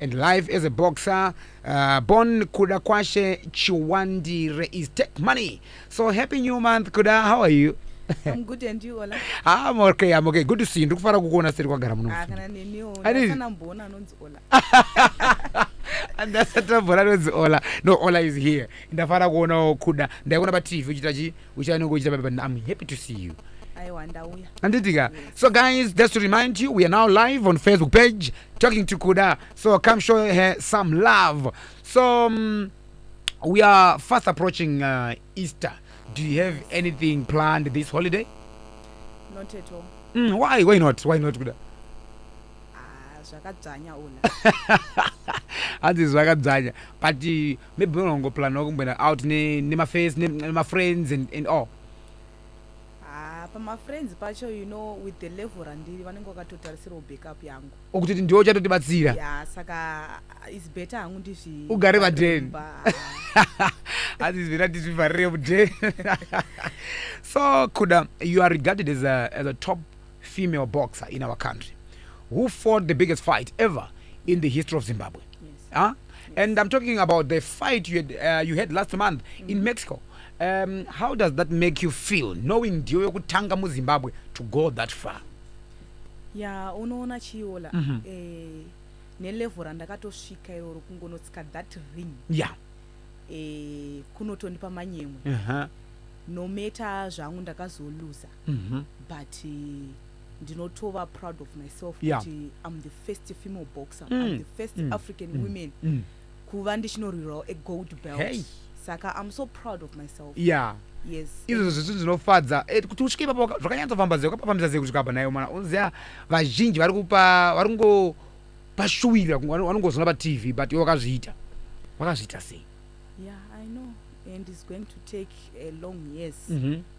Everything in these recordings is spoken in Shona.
and life as a boxer uh, born kuda kwashe chiwandire is take money so happy new month kuda how are you I'm good and you Ola. Ah, I'm okay, I'm okay. Good to see you. Ndikufara kukuona seri kwagara muno. Ah, kana neniwo. Ani- Ndasana mbona anonzi Ola. Ndasata mbona anonzi Ola. No, Ola is here. Ndafara kuonawo kuda. Ndaikuona pa TV uchita chi uchanenge uchita baba but i'm happy to see you aiwa ndauya anditika so guys just to remind you we are now live on facebook page talking to kuda so come show her some love so um, we are fast approaching uh, easter do you have anything planned this holiday not at all mm, why why not why not kuda ah, zvakadzvanya ula hanzi zvakadzanya but uh, maybe munongoplanwa kumboenda out nemaface ne nemafriends and, and all ah, pamafriends pacho you know with the level randiri vanenge vakatotarisirawo backup yangu okutoti ndiwo uchatotibatsira ya saka is better hangu ndizvi ugare paden asi is better ndizvivharire muden so kuda you are regarded as a, as a top female boxer in our country who fought the biggest fight ever in the history of Zimbabwe. Yes. Huh? Ah? Yes. And I'm talking about the fight you had, uh, you had last month mm. in Mexico. Um, how does that make you feel knowing ndiyo yokutanga muzimbabwe to go that far ya yeah, unoona chiola mm -hmm. eh, nelevel randakatosvika iroro kungonotsika that ring ya yeah. eh, kunotondipa manyemwe uh -huh. nometa zvangu ndakazoluza mm -hmm. but uh, ndinotova proud of myself yeah. kuti im the first female boxer mm. im the first mm. african mm. women mm. kuva ndichinorwirawo a gold belt hey. saka im so proud of myself yeah izvozvo zvitu zvinofadza eh, kuti usvike ipapo zvakanyatsofamba zve ukapafambisa sei kusvika apa nayo mwana unoziva vazhinji vari kupa vari kungopashuwira vanongozona patv but iwe wakazviita wakazviita sei yeah i know and is going to take a long years mm -hmm.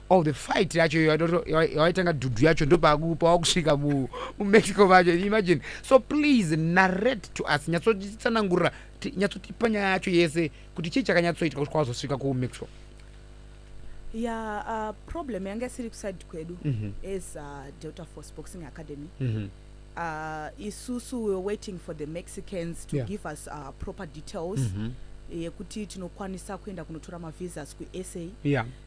of the fight yacho yawaitanga dhudhu yacho ndopawakusvika mumexico macho imagine so please narrate to us nyatsotsanangurira nyatsotipa nyaya yacho yese kuti chii chakanyatsoitwa kuti kwawazosvika kumexico ya uh, problem yanga isiri kuside kwedu mm -hmm. as uh, delta force boxing academy mm -hmm. uh, isusu we're waiting for the mexicans to yeah. give us uh, proper details mm -hmm yekuti tinokwanisa kuenda kunotora mavisas kusa yeah.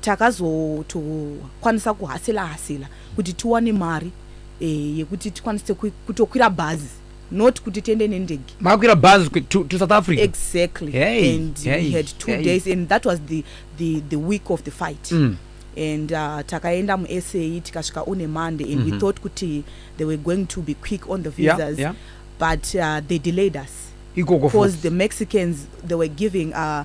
Takazotokwanisa kuhasila hasila kuti tiwane mari eh, yekuti tikwanise kutokwira bhazi not kuti tiende nendege makwira bus to, to south africa exactly hey, and hey, we had two hey. days and that was the, the, the week of the fight mm. and uh, takaenda musa tikasvika on a monday and mm -hmm. we mhm. thought kuti they were going to be quick on the visas yeah, yeah. but uh, they delayed us because the mexicans they were giving uh,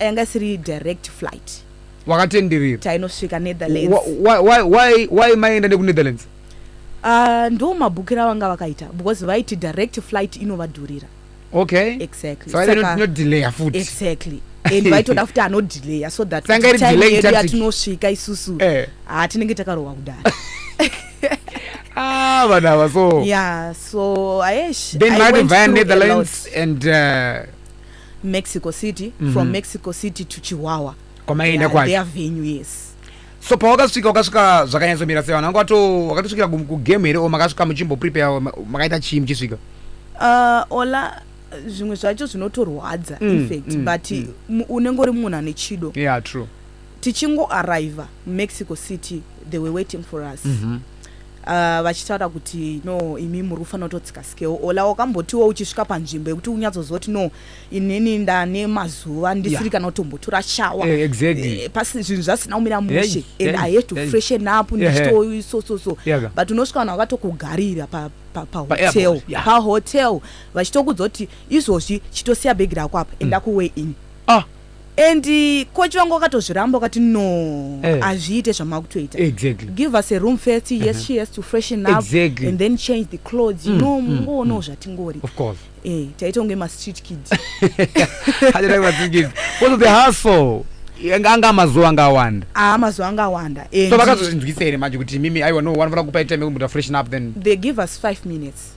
yanga isiri direct flight wakatenderera tainosvika netherlands why maienda nekunetherlands ah, ndo mabhukira vanga vakaita because vaiti direct flight inovadhurira okay exactly so inodelayer futi exactly and vaitoda futi anodelayer so that time yedu yatinosvika isusu eh. ah, tinenge takarohwa kudari ah vana ava so yeah so aesh then vaiti vaya netherlands and uh, Mexico City mm -hmm. from mhm. Mexico City to Chihuahua kwamaienda kwacho their venue yes so pawakasvika wakasvika zvakanyatsomira sei vanhu vanga wato wakatosvikira kugame here o makasvika muchimboprepare makaita chii muchisvika uh, ola zvimwe zvacho zvinotorwadza mm, infact mm, but mm. unenge uri munhu ane chido yeah true Tichingo arriver muMexico City they were waiting for us mm -hmm. Uh, vachitaura kuti no imi muri kufanira kutodzikasikewo ola wakambotiwo uchisvika panzvimbo yekuti unyatsoziva kuti no inini ndane mazuva ndisiri kana kutombotura shawa eh, eh, pasi zvinhu zvasina kumira mushe and i had to freshen up ndichito so so so but unosvika vanhu vakatokugarira pahotel pahotel vachitokudza kuti izvozvi chitosiya bhegi rako apa enda mm. kuway in ah. and coach vangu wakatozviramba wakati no eh. hazviite eh. zvamakutoita exactly. give us a room first yes uh -huh. she has to freshen up exactly. and then change the clothes mm, no mm, mungoonawo mm, zvatingori of course eh taita kunge mastreet kid also the hustle anga amazuva anga awanda ah amazuva anga awanda so vakazozvinzwisa here manje kuti mimi aiwa no vanofanira kupa time yekumbuta freshen up then they give us five minutes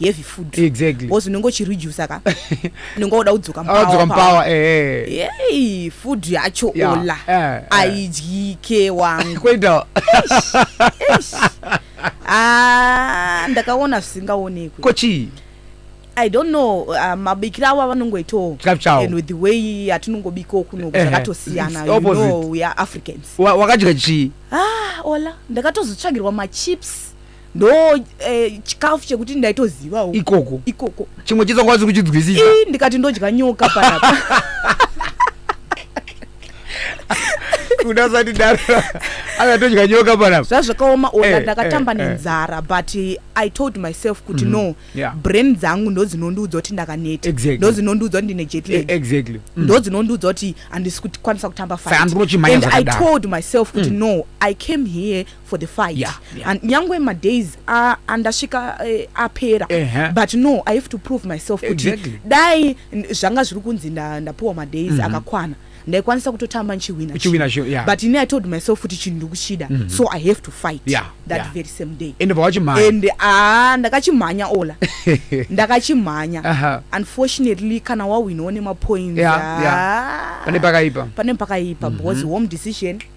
heavy food exactly because unenge uchireduce ka unenge woda kudzoka mudzoka mupower eh hey food yacho yeah. ola eh, eh. aidyike wangu kwenda ah ndakaona zvisingaonekwi kochi I don't know uh, mabikiro avo avanongoitawo and with the way yatinongobikawo kuno zvakatosiyana you know we are Africans wakadya chii ah ola ndakatozotsvagirwa machips ndo eh, chikafu chekuti ndaitozivawo ikoko ikoko chimwe chitsongo asi kuchidzwisisa ii ndikati ndodya nyoka panapa kuda sati daro akatodya nyoka panapa zvazvakaoma ona Eh, ndakatamba eh, eh. nenzara but eh, i told myself kuti no Yeah. brain dzangu ndodzinondiudza kuti ndakaneta Exactly. ndodzinondiudza kuti ndine E- jetlag exactly Mm. ndodzinondiudza kuti handisi kutokwanisa kutamba Saka handinochimhanya and i zvakadaro. told myself kuti no i came here for the fight yeah, yeah. and nyangwe madays uh, andasvika uh, apera uh -huh. but no i have to prove myself kuti exactly. dai zvanga zviri kunzi ndapuwa madays mm -hmm. akakwana ndaikwanisa kutotamba ndichiwina yeah. but ini i told myself kuti chinhu ndikuchida mm -hmm. so i have to fight yeah, that yeah. very same day and vawachimhanya and ah ndakachimhanya ola ndakachimhanya uh -huh. unfortunately kana wawinawo nemapoints yeah, yeah. pane pakaipa pane pakaipa mm -hmm. because home decision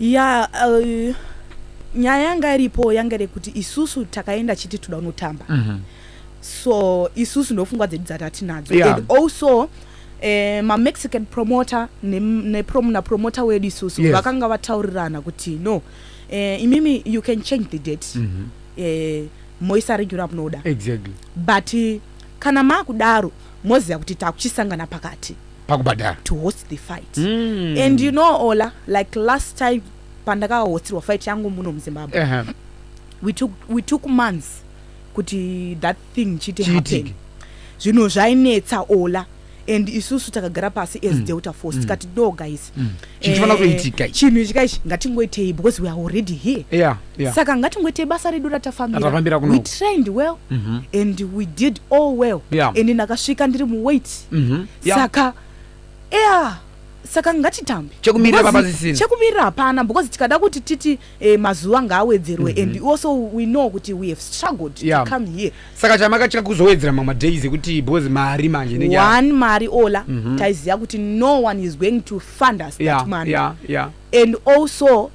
Yaa uh, nyaya yanga iripo yanga iri kuti isusu takaenda chiti toda kunotamba mm -hmm. so isusu ndofungwa dzedu dzatatinadzo yeah. and also eh, mamexican promoter napromoter ne, ne wedu isusu yes. vakanga vataurirana kuti no eh, imimi you can change the date mm -hmm. eh, moisa regular munoda exactly. but kana makudaro moziva kuti takuchisangana pakati pakubhadhara to host the fight mm. and you know ola like last time pandakahostirwa fight yangu muno muzimbabwe uh -huh. we, took, we took months kuti that thing chite happen zvinhu zvainetsa ola and isusu takagara pasi as mm. delta force mm. tikati do guys mm. eh, chinhu ichi kai chinhu ichi kai ngatingoitei because we are already here yeah. yeah. saka ngatingoite basa redu ratafambira we trained well mm -hmm. and we did all well yeah. and ndakasvika ndiri muweight mm -hmm. yeah. saka yeah saka ngatitambe chekumirira hapana because tikada kuti titi eh, mazuva ngaawedzerwe mm -hmm. and also we know kuti we have struggled yeah. to come here saka chamakatya kuzowedzera mamwe days ekuti because mari manje one mari ola mm -hmm. taiziva kuti no one is going to fund us yeah, that money yeah, yeah. and also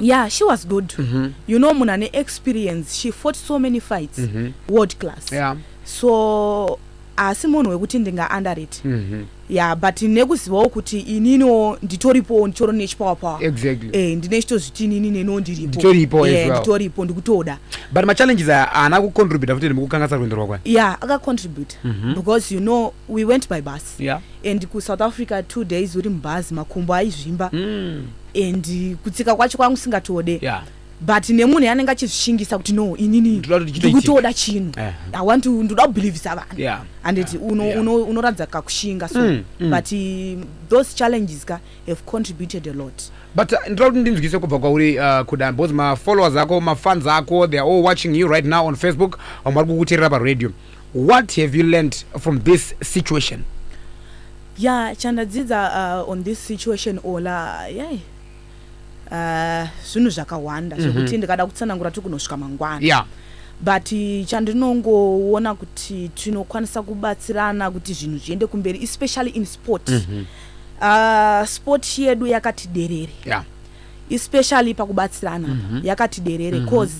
Yeah, she was good. Mm -hmm. You know, munhu ane experience. She fought so many fights. Mm -hmm. World class. Yeah. So asi munhu wekuti ndinga under it mm -hmm. yeah but nekuzivawo kuti ininiwo nditoripowo nditori nechipower power exactly eh ndine chito zviti inini neno ndiripo nditoripo eh, as well nditoripo ndikutoda but ma challenges ana ku contribute futhi nemukukangasa rwendo rwakwa yeah aka contribute mm -hmm. because you know we went by bus yeah and kusouth africa two days uri mubhazi makumbo aizvimba mm. and kutsika kwacho kwanga usingatode yeah. but nemunhu yanenge achizvishingisa kuti no inini ndikutoda chinhu eh. i want to ndoda kubelievisa vanhu yeah. and yeah. unoratidza uno, uno, uno kakushinga so mm, mm. but uh, those challenges ka have contributed a lot but uh, ndira kuti ndinzwise kubva kwauri uh, kuda because mafollowers ako mafans ako they are all watching you right now on facebook vamwe vari kukuterera paradio What have you learned from this situation? Yeah, chandadzidza uh, on this situation ola yeah. Uh, zvinhu zvakawanda mm -hmm. zvekuti ndikada kutsanangura tiri kunosvika mangwana yeah. but chandinongoona kuti tinokwanisa kubatsirana kuti zvinhu zviende kumberi especially in sport mm -hmm. uh, sport yedu yakati derere yeah. especially pakubatsirana mm -hmm. yakati derere mm -hmm. cause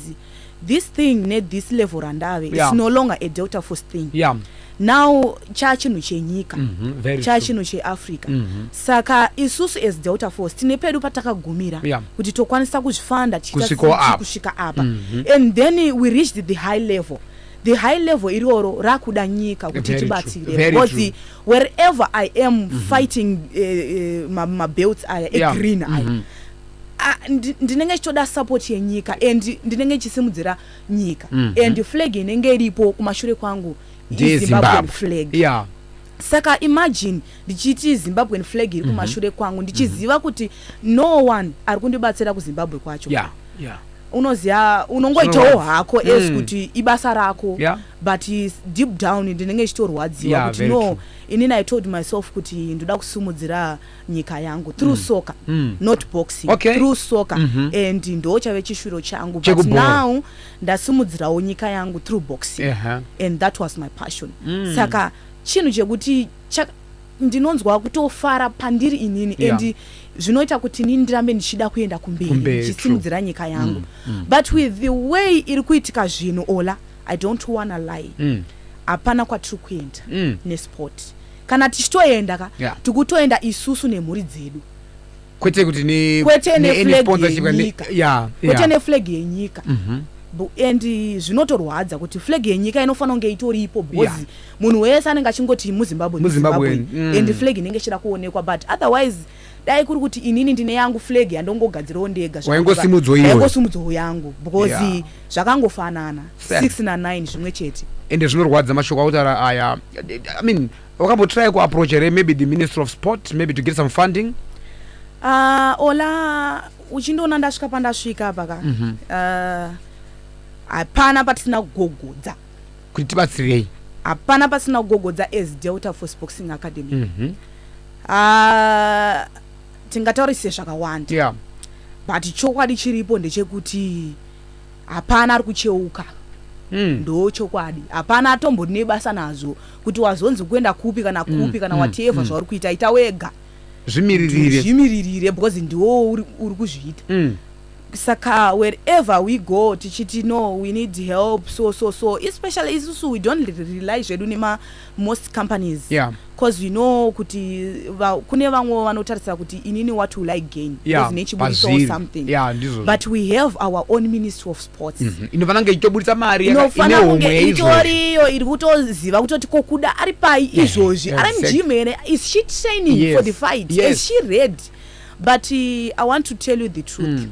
this thing ne this level randave yeah. it's no longer a delta force thing yeah. now chaa chinhu chenyika mm -hmm, chaa chinhu cheafrica mm -hmm. saka isusu as delta force tine pedu patakagumira yeah. kuti tokwanisa kuzvifanda tichikusvika apa mm -hmm. and then we reached the high level the high level iroro rakuda nyika kuti tibatsire because wherever i am mm -hmm. fighting uh, eh, uh, eh, mabelts aya egreen yeah. aya mm -hmm. ndinenge chitoda support yenyika and ndinenge chisimudzira nyika mm -hmm. and flag inenge iripo kumashure kwangu izimbabwean flag yeah. saka imagine ndichiti zimbabwean flag iri mhm. kumashure mm -hmm. kwangu ndichiziva mm -hmm. kuti no one ari kundibatsira kuzimbabwe kwacho yeah. Yeah unoziva unongoitawo hako mm. as kuti ibasa rako yeah. but deep down ndinenge chitorwadziwa yeah, kuti no inini i told myself kuti ndoda kusumudzira nyika yangu through mm. soccer mm. not boxing okay. through soccer mm -hmm. and ndo chave chishuviro changu but now ndasimudzirawo nyika yangu through boxing uh -huh. and that was my passion mm. saka chinhu chekuti ndinonzwa kutofara pandiri inini yeah. and zvinoita kuti nini ndirambe ndichida kuenda kumberi ndichisimudzira nyika mm, yangu mm, mm. but with the way iri kuitika zvinhu ola i don't wanna lie mm. hapana mm. kwatiri kuenda mm. nesport kana tichitoenda ka yeah. tikutoenda isusu nemhuri dzedu kwete kuti kwete neflag yenyika mhm. and zvinotorwadza kuti flag yenyika inofanira kunge itoripo because munhu wese anenge achingoti muzimbabwe muzimbabwe mm. and flag inenge ichida kuonekwa but otherwise dai kuri kuti inini ndine yangu flag yandongogadzirawo ndega zvaingosimudzwawo yangu because yeah. zvakangofanana 6 na 9 zvimwe chete ende zvinorwadza mashoko autaura aya i mean wakambotry kuapproach here maybe the minister of sport maybe to get some funding uh, ola uchindiona ndasvika pandasvika paka mm -hmm. uh, hapana patisina kugogodza kuti tibatsirei hapana pasina kugogodza as delta for sportsing academy mm -hmm. uh, tingataurise zvakawanda yeah. but chokwadi chiripo ndechekuti hapana ari kucheuka Mm. ndo chokwadi hapana atombonebasa nazvo kuti wazonzi kuenda kupi kana kupi mm. kana mm. whatever mm. zvauri kuita ita wega zvimiririre zvimiririre because ndiwo uri uri kuzviita Mm. saka wherever we go tichiti no we need help so so so especially isusu we don't re- rely zvedu nema most companies Yeah. cause we know kuti va, kune vamwe vanotarisira kuti inini what will i gain Yeah, Because nechiburitso or pazviri. something Yeah, ndizvozvo. but we have our own ministry of sports mm -hmm. inofanira kunge ichitoburitsa mari inofanira kunge itori iyo iri kutoziva kutoti ko kuda ari pai eh, izvozvi ari mujim here is she training yes. for the fight yes. is she red but uh, i want to tell you the truth mm.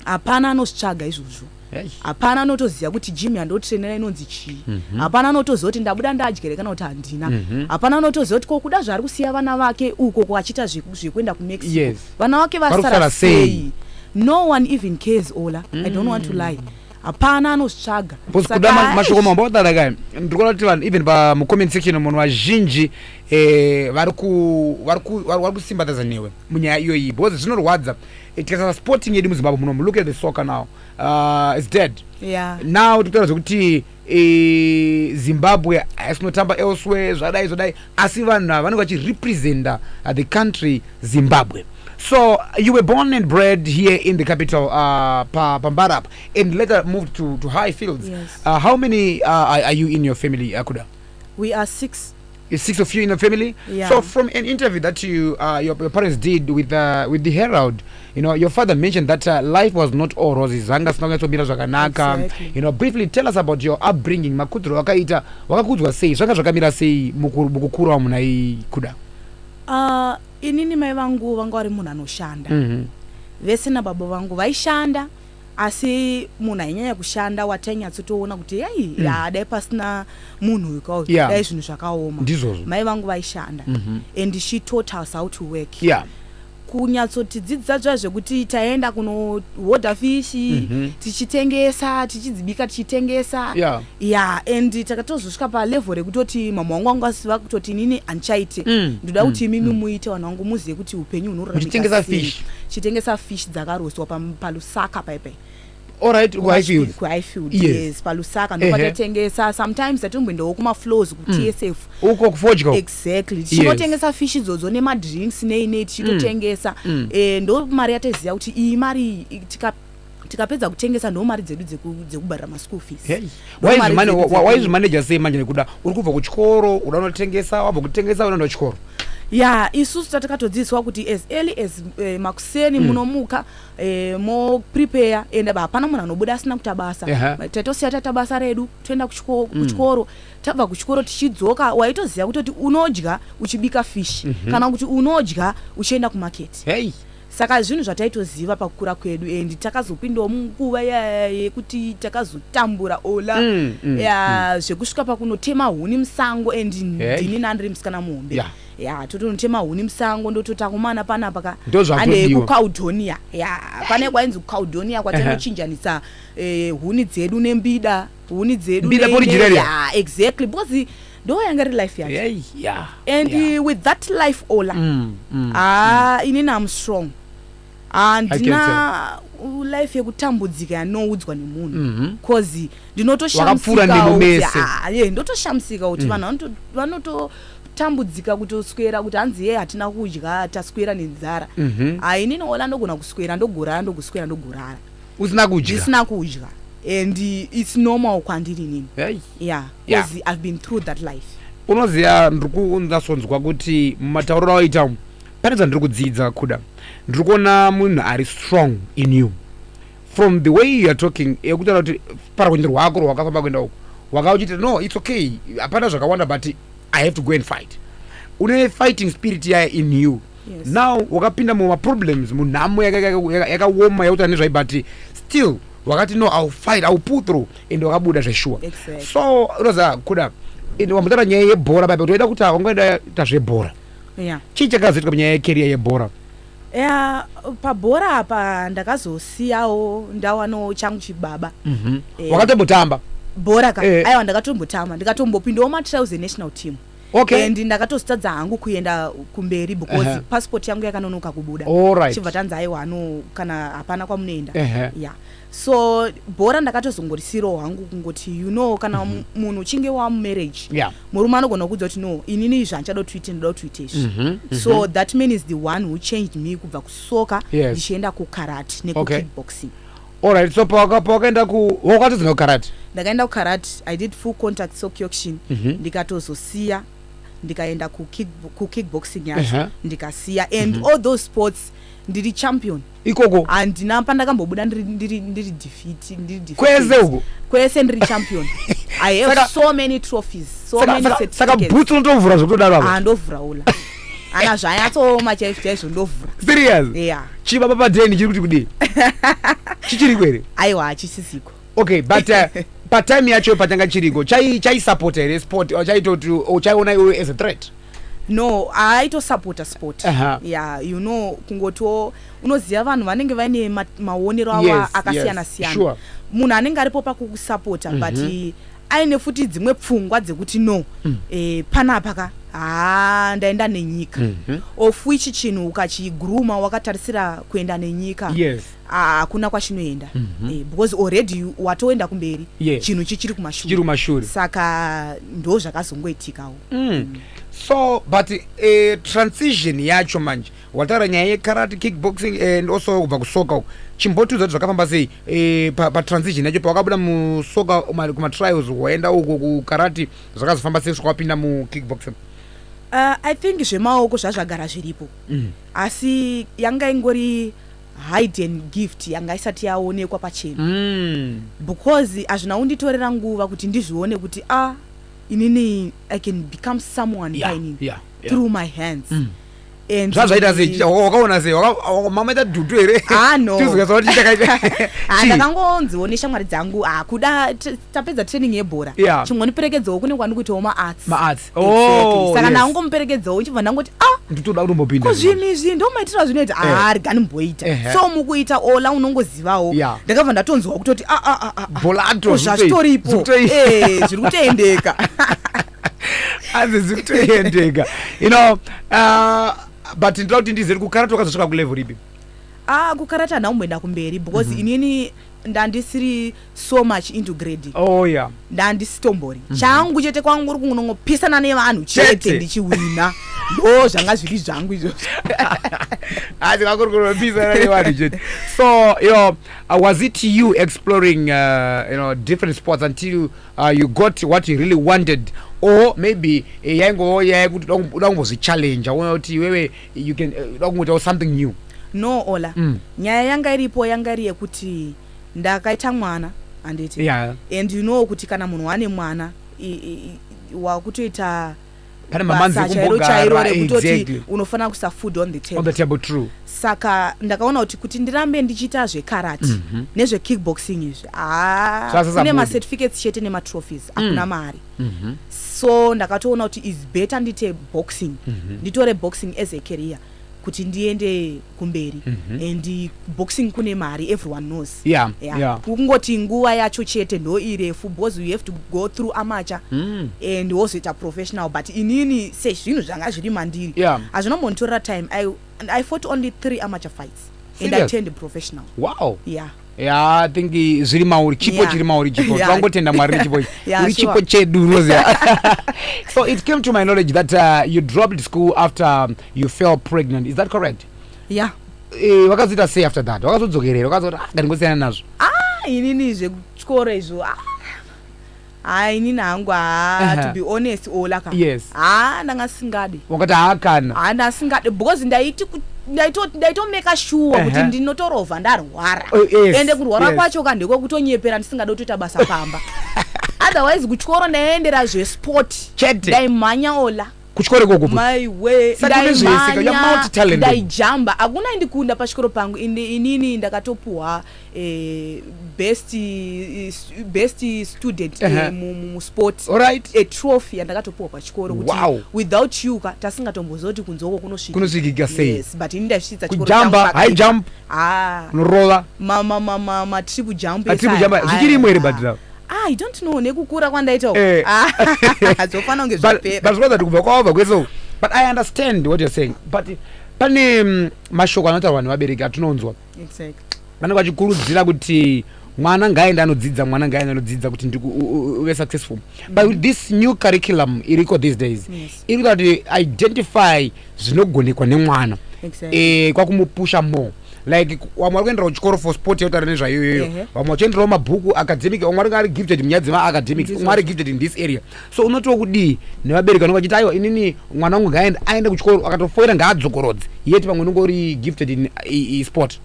hapana anozvitsvaga izvozvo hapana anotoziva kuti jimi yandotrainera inonzi chii mhm. hapana anotoziva kuti ndabuda ndadyere kana kuti handina mhm. hapana anotoziva kuti kokuda zvaari kusiya vana vake uko kwaachita zvekuenda kumexico vana wake vasara sei no one even cares ola mm. i don't want to lie hapana anozvitsvaga kuda mashoko mambo odala ka ndiri kuona kuti vanhu even pamucomment section munhu vazhinji eh, vari kusimbatadza newe munyaya iyoyi because zvinorwadza eh, tikasara sporting yedu muzimbabwe munomu look at the soccer now uh, is dead yeah. now tikutaura zvekuti e, zimbabwe haisi kunotamba elsewhere zvadai zvadai asi vanhu ava vanenge vachirepresenta uh, the country zimbabwe so you were born and bred here in the capital uh, pa, pambara apa and later moved to, to high fields Yes. uh, how many uh, are, are you in your family akuda we are six It's six of you in the family. Yeah. So from an interview that you uh, your, your parents did with uh, with the Herald, you know, your father mentioned that uh, life was not all roses. Zanga sina kunyatsobira zvakanaka. Exactly. You know, briefly tell us about your upbringing. Makudro wakaita wakakudzwa sei? Zvanga zvakamira sei muku- mukukura muna iyi kuda? Ah, inini mai vangu vanga vari munhu anoshanda Mhm. vese nababa vangu vaishanda asi munhu ainyanya kushanda watainyatsotoona kuti yai mm. ya dai pasina munhu uyu kauyu yeah. dai zvinhu zvakaoma ndizvozvo mai vangu vaishanda mm -hmm. and she taught us how to work yeah kunyatsotidzidzisa zva zvekuti taenda kunohodha fishi mm -hmm. tichitengesa tichidzibika tichitengesa yeah. ya and takatozosvika palevel rekutoti mama wangu wangu asiva kutoti inini handichaite mm. ndoda mm, kuti imimi mm. muite vanhu vangu muzive kuti upenyu hunoramitengesa fish chitengesa fish dzakaroswa palusaka paipai alright kuhighfield kuhighfield yes, yes palusaka ndopatatengesa sometimes tatinomboendawo kumaflows kutsf mm. uko kufodya exactly tichingotengesa yes. fish idzodzo nemadrinks nei nei tichitotengesa mm. mm. eh, ndo mari yataiziva kuti iyi mari tikap tikapedza kutengesa ndo mari dzedu dzekubharira maschool feeswaizvimaneja sei manje nekuda uri kubva kuchikoro uda unotengesa wabva kutengesa unoenda kuchikoro ya isusu tatakatodzidziswa kuti as early as eh, makuseni mm. munomuka eh, moprepare and hapana munhu anobuda asina kuta basa uh -huh. taitosiya taita basa redu toenda kuchiko, mm. kuchikoro tabva kuchikoro tichidzoka waitoziva kutoti unodya uchibika fish mm -hmm. kana kuti unodya uchienda kumaketi hey. Saka zvinhu zvataitoziva pakukura kwedu and takazopindawo munguva yekuti takazotambura ola mm, mm, ya mm. zvekusvika pakunotema huni musango and hey. ndini nandiri musikana muhombe yeah ya totonotema huni musango ndototakumana panapa ka ande kucaudonia ya pane kwainzi kucaudonia kwatinochinjanisa eh, huni dzedu nembida huni dzedu exactly because ndo yanga ri life yacho yeah, yeah, and yeah. with that life ola mm, mm, ah, mm. inini am strong handina life yekutambudzika yanoudzwa nemunhu mhm. cause mm -hmm. ndinotoshamsikaye ndotoshamsika kuti mm. vanhu vanototambudzika kutoswera kuti hanzi ye hatina kudya taswera nenzara mm -hmm. ainini ola ndogona kuswera ndogorara ndokuswera ndogorara usina kudya ndisina kudya and it's normal kwandiri nini Hey. yeah Yeah. because i've been through that life unoziva ndiri kunzasonzwa kuti mumatauriro awaita umu pane zvandiri kudzidza kuda ndiri kuona munhu ari strong in you from the way you are talking yekutaura kuti parwendo rwako rwakafamba kuenda uku waka uchiti no its okay hapana zvakawanda but i have to go and fight une fighting spirit yaya in you Yes. now wakapinda muma problems munhamo yaka- yaka- yaka- yakaoma yakuta nezvai but still wakati no ill fight ill pull through and wakabuda zveshuwa Exactly. so unoza kuda and wambotaura nyaya yebhora baba kuti waida kuti wangoenda ta zvebhora Yeah. chii chakazoitwa munyaya yekeriya yebhora Yeah, pabhora apa ndakazosiyawo ndawanawo changu chibaba Mhm. Eh. wakatombotamba bhora ka Eh. aiwa ndakatombotamba ndikatombopindawo matrials enational team okay. and ndakatozitadza hangu kuenda kumberi because uh -huh. passport yangu yakanonoka kubuda right. chibva tanzi aiwa no kana hapana kwamunoenda uh -huh. yeah so bhora ndakatozongorisirawo hangu kungoti you know kana mm -hmm. munhu uchinge wamumarriage yeah. murume anogona kuudza kuti no inini izvi handichada kuti uite ndoda kuti uite izvi mm -hmm. so mm -hmm. that man is the one who changed me kubva kusoka ndichienda yes. kukarati nekukickboxing okay. Alright, so pawaka pawakaenda ku wakatodzoka kukarate. Ndakaenda kukarate, I did full contact sock auction. Mm -hmm. Ndikatozosiya ndikaenda ku kick ku kickboxing yacho. Uh -huh. Ndikasiya and mm -hmm. all those sports ndiri champion ikoko handina pandakambobuda ndiri ndiri ndiri defeat ndiri defeat kwese uko kwese ndiri champion i have saka, so many trophies so saka, many saka, saka boots unotovhura zvekutodaro apa handovhura ah, ula ana zvanyatsooma chaizvo chaizvo ndovhura serious yeah. chibaba padeni chiri kuti kudii chichiriko here aiwa hachisisiko okay but uh, patime yacho patanga chiriko chaisapota here sport uh, chaitoti uh, chaiona iwe as a threat no aitosapota sport uh -huh. yeah, you know kungotiwo unoziva vanhu vanenge vaine maonero avo yes, akasiyana yes, siyana sure. munhu anenge aripo pakukusapota mm -hmm. but mhm. aine futi dzimwe pfungwa dzekuti no mm. e, panapa ka haa ndaenda nenyika mm -hmm. of which chinhu ukachigruma wakatarisira kuenda nenyika yes hakuna ah, kwachinoenda mm -hmm. eh, because already watoenda kumberi yes. chinhu chichiri kumashure saka ndo zvakazongoitikawo mm. mm. so but uh, transition yacho manje wataura nyaya yekarate kickboxing eh, and also kubva kusoka uku chimbotiudza kuti zvakafamba sei eh, patransition yacho pawakabuda musoka kumatrials waenda uko kukarate zvakazofamba sei svika wapinda mukickboxing uh, i think zvemaoko zvazvagara zviripo mm. asi yanga ingori hidden gift yanga isati yaonekwa pachena mm. because hazvina unditorera nguva kuti ndizvione kuti a ah, inini i can become someone yeah, yeah, yeah. through my hands mm. zvazvaita sei wakaona sei mamaita dutu here ah, ndakangonziwo neshamwari dzangu ah, kuda tapedza training yebhora chingoniperekedzawo kune kwandi kuitawo maarts oh, saka ndangomuperekedzawo ndichibva ndangoti a ah, nditoda kutombopinda kuzvinhu izvi ndomaitira zvinoita eh. aa rigani mboita so mukuita ola unongozivawo ndakabva ndatonzwa kutoti aazvitoripo eh, zviri kutendeka azizi kutoendeka you know uh, but ndinoda kuti ndizeri kukarata wakazosvika kulevel ripi ah kukarata hanha kumboenda kumberi because mm -hmm. inini ndandisiri so much into grading oh, yeah. ndandisitombori mm -hmm. changu chete kwangu uri kunongopisana nevanhu chete ndichiwina ndo zvanga zviri zvangu izvozvo asi kwakuri kunopisana nevanhu chete so you know, uh, was it you exploring uh, you know, different sports until uh, you got what you really wanted or maybe eh, yaingovo yaya kuti uda kumbozvichallenja uona kuti iwewe you can eh, uda kungoitawo something new no ola mm. nyaya yanga iripo yanga iri yekuti ndakaita mwana handiti yeah. and you know kuti kana munhu wane mwana wakutoita pane mamanzi chairo chairo rekutoti exactly. unofanira kusa food on the table, on the table true. saka ndakaona kuti kuti ndirambe ndichiita zvekarate mm -hmm. nezvekickboxing izvi kune macertificates chete nematrophies mm. hakuna mm. mari mm -hmm. so ndakatoona kuti is better ndite boxing mm -hmm. nditore boxing as a career kuti ndiende kumberi mm -hmm. and boxing kune mari everyone knows yeah, yeah. yeah. kungoti nguva yacho chete ndo irefu because you have to go through amacha mm. and wozoita professional but inini sezvinhu zvanga zviri mandiri yeah. hazvina montora time I, I fought only three amacha fights Serious? and I turned professional wow yeah Yeah, I think zviri mauri chipo yeah. chiri mauri chipo yeah. twangotenda mwari nechipo yeah, uri chipo sure. chedu unoziva so it came to my knowledge that uh, you dropped school after you fell pregnant is that correct yeah eh, wakazoita uh, say after that wakazodzokerera wakazoti ah, ngandingosiyana nazvo ah inini zvekutyora izvo ah haa inini hangu haa to be honest ola ka yes haa ndanga singadi wakati haa kana haa ndanga singadi because ndaiti ndaitomeka shuwa kuti ndinotorova ndarwara oh, ende kurwara kwacho ka ndekwekutonyepera ndisingada kutoita basa pamba otherwise kutyoro ndaiendera zvesport chete ndaimhanya ola kuchikoro ikoko ndaijamba hakuna indikunda pachikoro pangu inini ndakatopuhwa eh, best, eh, best student uh -huh. musport right. a trophy yandakatopuhwa pachikoro kuti wow. without you ka tasingatombozoti kunzoko kunosvikika sei yes, but ini ndaisvitsa kujamba high jump ah. norova matripu jump zvichiri imwe here badhirawo Ah, I don't know nekukura kwandaita eh. ah, zvofana kunge zvapera zvinoda kuti kubva kwaova kwese uku but i understand what you're saying but pane mm, mashoko anotaura vanhu vabereki atinonzwa vanenge vachikurudzira kuti mwana ngaaende anodzidza mwana ngaaende anodzidza kuti uve successful but with this new curriculum iriko these days yes. iri kuda kuti identify zvinogonekwa nemwana Exactly. eh, kwakumupusha more like vamwe vari kuenderawo chikoro for sport yautaura nezvayoyoyo Ehe. vamwe vachienderawo mabhuku academic vamwe vari- ari gifted munyaya dzemaacademic Ndizvo. umwe ari gifted in this area so unotiwo kudii nevabereki vanenge vachiti aiwa inini mwana wangu ngaaende aende kuchikoro akatofoira ngaadzokorodze yet pamwe unenge uri gifted in i- i- sport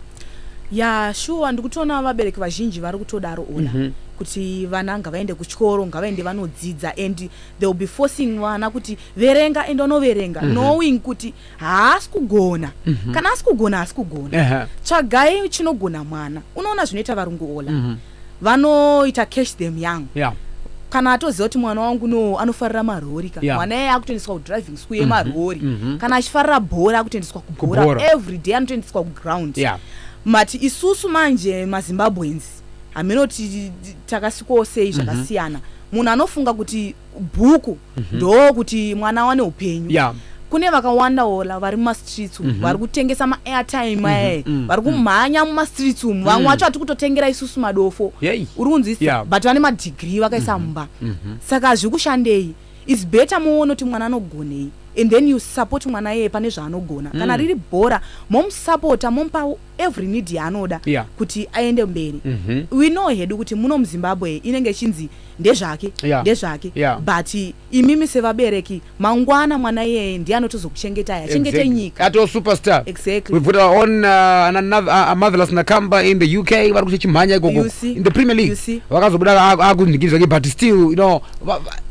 ya shuwa ndikutoona vabereki vazhinji vari kutodaro ona Mhm. kuti vana ngavaende kuchikoro ngavaende vanodzidza and they will be forcing vana kuti verenga ende vanoverenga mm -hmm. knowing kuti haasi kugona mm -hmm. kana asi kugona haasi kugona uh -huh. tsvagai chinogona mwana unoona zvinoita varungu ola mm -hmm. vanoita cash them young yeah kana atoziva kuti mwana wangu no anofarira marori ka mwana yeah. iye akutoendeswa kudriving school mhm. yemarori mm -hmm. kana achifarira bhora akutoendeswa kubhora every day anotoendeswa kuground yeah. mati isusu manje mazimbabwens hameno takasikowo sei mhm. zvakasiyana munhu anofunga kuti bhuku mhm. ndoo kuti mwana awane upenyu yeah kune vakawanda ola vari mumastreets umu mm -hmm. vari kutengesa maairtime mhm, aye mm -hmm. vari mhm. kumhanya mumastreets umu vamwe mhm. wacho mm -hmm. kutotengera isusu madofo uri kunzwisa yeah. but vane madigrii vakaisa mm -hmm. mumba mm -hmm. saka zviri kushandei is better muone kuti mwana anogonei and then you support mwana yeye pane zvaanogona mm. kana riri bhora momusapota momupa every need yaanoda yeah. kuti aende mberi mm -hmm. we know hedu kuti muno muzimbabwe inenge ichinzi ndezvake yeah. ndezvake yeah. but imimi sevabereki mangwana mwana iyeye ndiye anotozokuchengetai achengete exactly. nyika ato superstar exactly. we've got our own uh, another, uh, marvelous nakamba in the uk vari kuita chimhanya ikoko in the premier league vakazobuda akundikizvake but still you know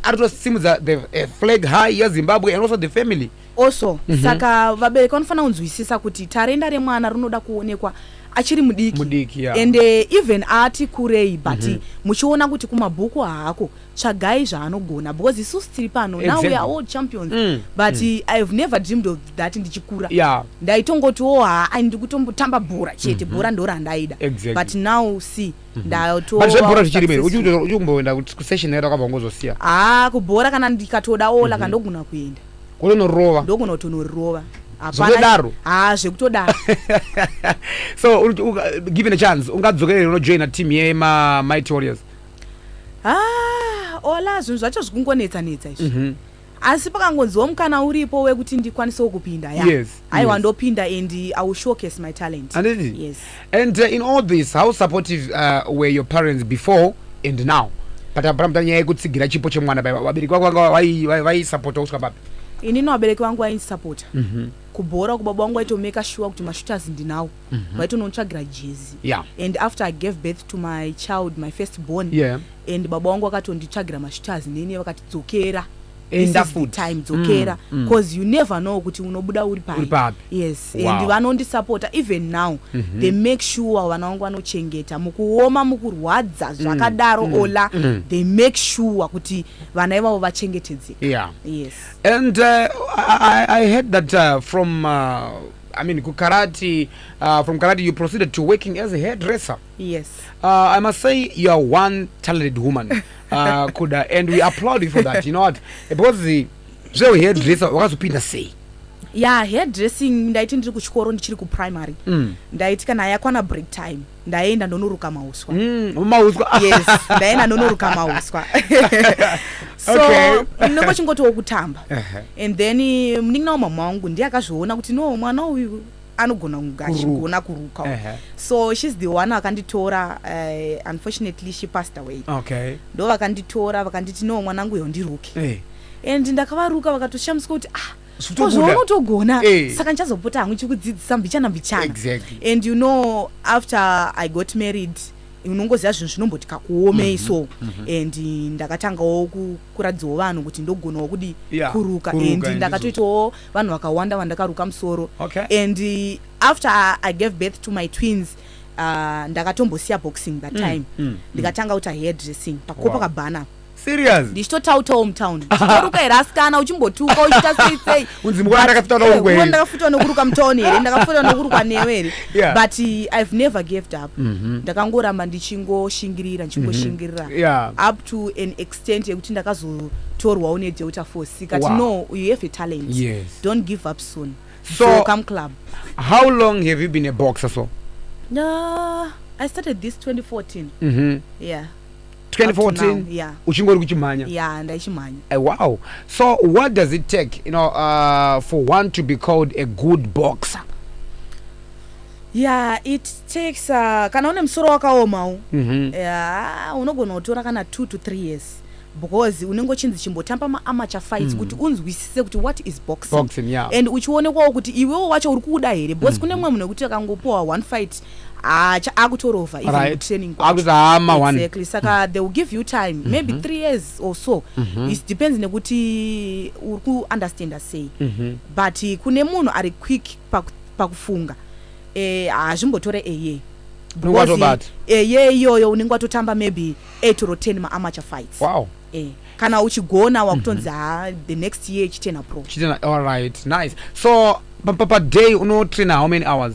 aritosimudza the uh, flag high yezimbabwe and also the family also mm -hmm. saka vabereki vanofanira kunzwisisa kuti tarenda remwana rinoda kuonekwa achiri mudiki mudiki yeah. and uh, even ati kurei but mm -hmm. muchiona kuti kumabhuku haako tsvagai zvaanogona because isusu tiri pano exactly. now we are all champions mm. but mm. i have never dreamed of that ndichikura yeah. ndaitongotiwo oh, haa ndikutombotamba bhora chete mm -hmm. bhora ndorandaida exactly. but now see but zvebhora zvichirimeri uchikumboenda kusession yaita kwabva ngozosiya haa kubhora kana ndikatoda ola mhm. ka ndogona kuenda kutonorova ndogona kutonorova zvekutodaro haa zvekutodaro so given a chance ungadzokerere unojoina team yemamighty warriors haa ola zvinhu zvacho zvikungonetsanetsa izvi mhm. asi pakangonziwo mukana uripo wekuti ndikwanisewo kupinda ya yes, aiwa yes. ndopinda and i will showcase my talent Anditi? yes and uh, in all this how supportive uh, were your parents before and now patapamta nyaya yekutsigira chipo chemwana pai vabereki vako vanga vai- vai- vaisapota kusvika papi inini vabereki vangu vaindisapota mm -hmm. kubhora uko baba wangu aitomeka shuwa kuti mashooters ndinawo Mhm. vaitonotsvagira jezi yeah. and after i gave birth to my child my first born yeah. and baba wangu vakatonditsvagira mashuters nini vakatidzokera time dzokera because mm, mm. you never know kuti unobuda uri pai yes wow. and vanondisapota even now mm -hmm. they make sure vana wangu vanochengeta mukuoma mukurwadza mm, zvakadaro mm, ola mm. they make sure kuti vana ivavo vachengetedzeka yeah. yes and uh, I, i heard that uh, from uh, I mean, Karate, uh, from Karate, you proceeded to working as a hairdresser. Yes. Uh, I must say, you are one talented woman, uh, Kuda, and we applaud you for that. You know what? Because the so hairdresser, wakazopinda sei? Yeah, hairdressing ndaiti ndiri kuchikoro ndichiri kuprimary. Mm. Ndaiti kana yakwana break time. ndaenda ndonoruka mauswa mm, mauswa yes ndaenda ndonoruka mauswa so okay. ndinenge chingotiwo kutamba uh -huh. and then eh, munin'ina wamama wangu ndiye akazviona kuti no mwana uyu anogona kunge achigona kuruka uh -huh. so shes the one vakanditora uh, unfortunately she passed away okay. ndo vakanditora vakanditi no mwanangu yo ndiruke hey. Eh. and ndakavaruka vakatoshamiswa kuti ah zvounotogona eh. saka ndichazopota hangu chikudzidzisa mbichana mbichana and you know after i got married unongoziva zvinhu zvinomboti kakuomei mhm, so mhm. and ndakatangawo kukuradzawo vanhu kuti ndogonawo kudi kuruka and ndakatoitawo vanhu vakawanda vandakaruka musoro and after i gave birth to my twins uh, ndakatombosiya boxing that mm, time mm, mm. ndikatanga kuita hair dressing pakuko pakabhana serious ndichitotautawo mutown chitoruka here asikana uchimbotuka uchiita sei sei unzi mwana ndakafutawo eh, nokuruka ndakafutawo nokuruka mutown here ndakafutawo nokuruka newe here but i've never gaved up mhm. ndakangoramba ndichingoshingirira ndichingoshingirira mhm. up to an extent yekuti ndakazotorwawo nedelta force ikati no you have a talent don't give up soon so come club how long have you been a boxer so no i started this 2014 mm -hmm. yeah 2014 yeah. uchingori kuchimhanya yeah, ndaichimhanya uh, eh, wow so what does it take you know, uh, for one to be called a good boxer yeah it takes uh, kana une musoro wakaomawo mm -hmm. yeah, unogona kutora kana two to three years because unenge uchinzi chimbotamba maamature fights mm. kuti unzwisise kuti what is boxing, boxing yeah. and uchionekwawo kuti iwewo wacho uri kuuda here because mm. kune mumwe munhu wekuti akangopuwa one fight haa cha akutorova even Right. kutraining kwacho. Akuti haa ma one. exactly saka they will give you time maybe three years or so it depends nekuti uri kuunderstanda sei but eh, kune munhu ari quick paku- pakufunga eh, hazvimbotore eye Unenge watobata. eye iyoyo unenge watotamba maybe 8 or 10 maamateur fights wow eh, kana uchigona wakutonzi haa the next year chitena pro chitena all right nice so pa- pa- pa day unotrainer how many hours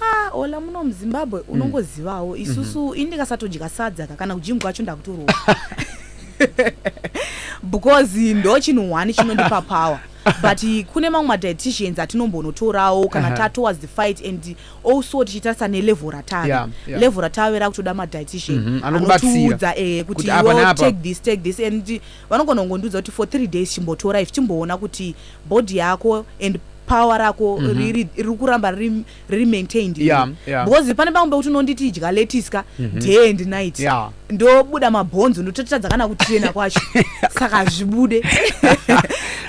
Haa ola muno muzimbabwe hmm. unongozivawo mm. isusu mm -hmm. ini ndikasatodya sadza ka kana kujingu kwacho ndakutorova because ndo chinhu one chinondipa power but kune mamwe madieticians atinombonotorawo kana uh -huh. tatowards the fight and also tichitarisa nelevel ratave yeah, yeah. level ratave rakutoda madietician mm -hmm. anotiudza eh, kuti take this take this and Vanogona kungondiudza kuti for three days chimbotora if chimboona kuti body yako and power rako mm -hmm. riri riri kuramba riri, riri maintained yeah, yeah. because pane pamwe pekuti unonditi idya letiska mm -hmm. day and night yeah. ndobuda mabhonzo ndototadza kana kuchena kwacho saka zvibude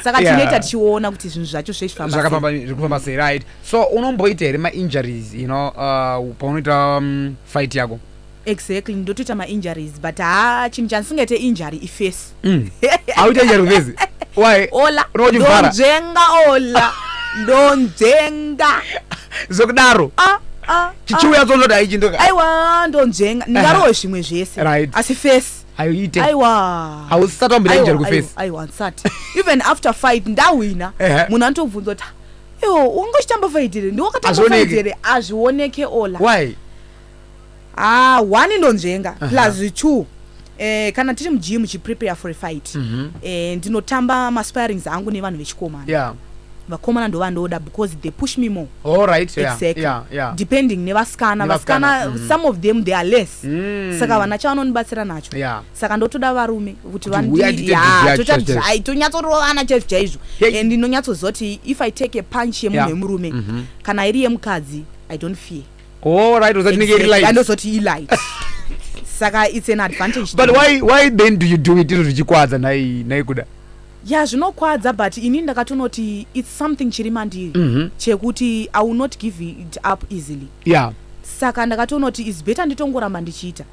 saka yeah. tinoita tichiona kuti zvinhu zvacho zvechifambazvakafamba sei right so unomboita here mainjuries you know uh, paunoita um, fight yako Exactly ndotoita ma injuries but haa chinhu chandisingaite injury ifesi mm. Auita injury kufesi? Why? Ola, ndonzvenga ola, ndonzvenga Zokudaro Ah, ah, chichiuya ah. dzonzoti haichindoka aiwa ndonzvenga ndingarowe zvimwe zvese right. asi fesi aiite aiwa hausisati wambira injury kufesi aiwa ndisati even after fight ndahwina munhu anotobvunza kuti iwo ungochitamba faitire ndiwakatamba faitire azvioneke ola why ah one ndonzvenga uh -huh. plus two Eh, kana tiri mujimu chiprepare for a fight mm -hmm. eh, ndinotamba maspirings angu nevanhu vechikomana yeah vakomana ndovandoda because they push me more all right yeah, exactly yeah, yeah. depending nevasikana vasikana mm. some of them they are less mm. saka vana chavanonibatsira nacho yeah. saka ndotoda varume kuti vanditonyatsoroana chaizvo chaizvo and ndinonyatsozoti if i take a punch yemunhu yeah. yemurume mm -hmm. kana iri yemukadzi i don't fear oh right uzati nike light andozoti i light saka it's an advantage but why why then do you do it izvo zvichikwadza nai nai kuda ya zvinokwadza but ini ndakatonoti its something chiri mandiri mm -hmm. chekuti i will not give it up easily yeah saka ndakatonoti is better nditongoramba ndichiita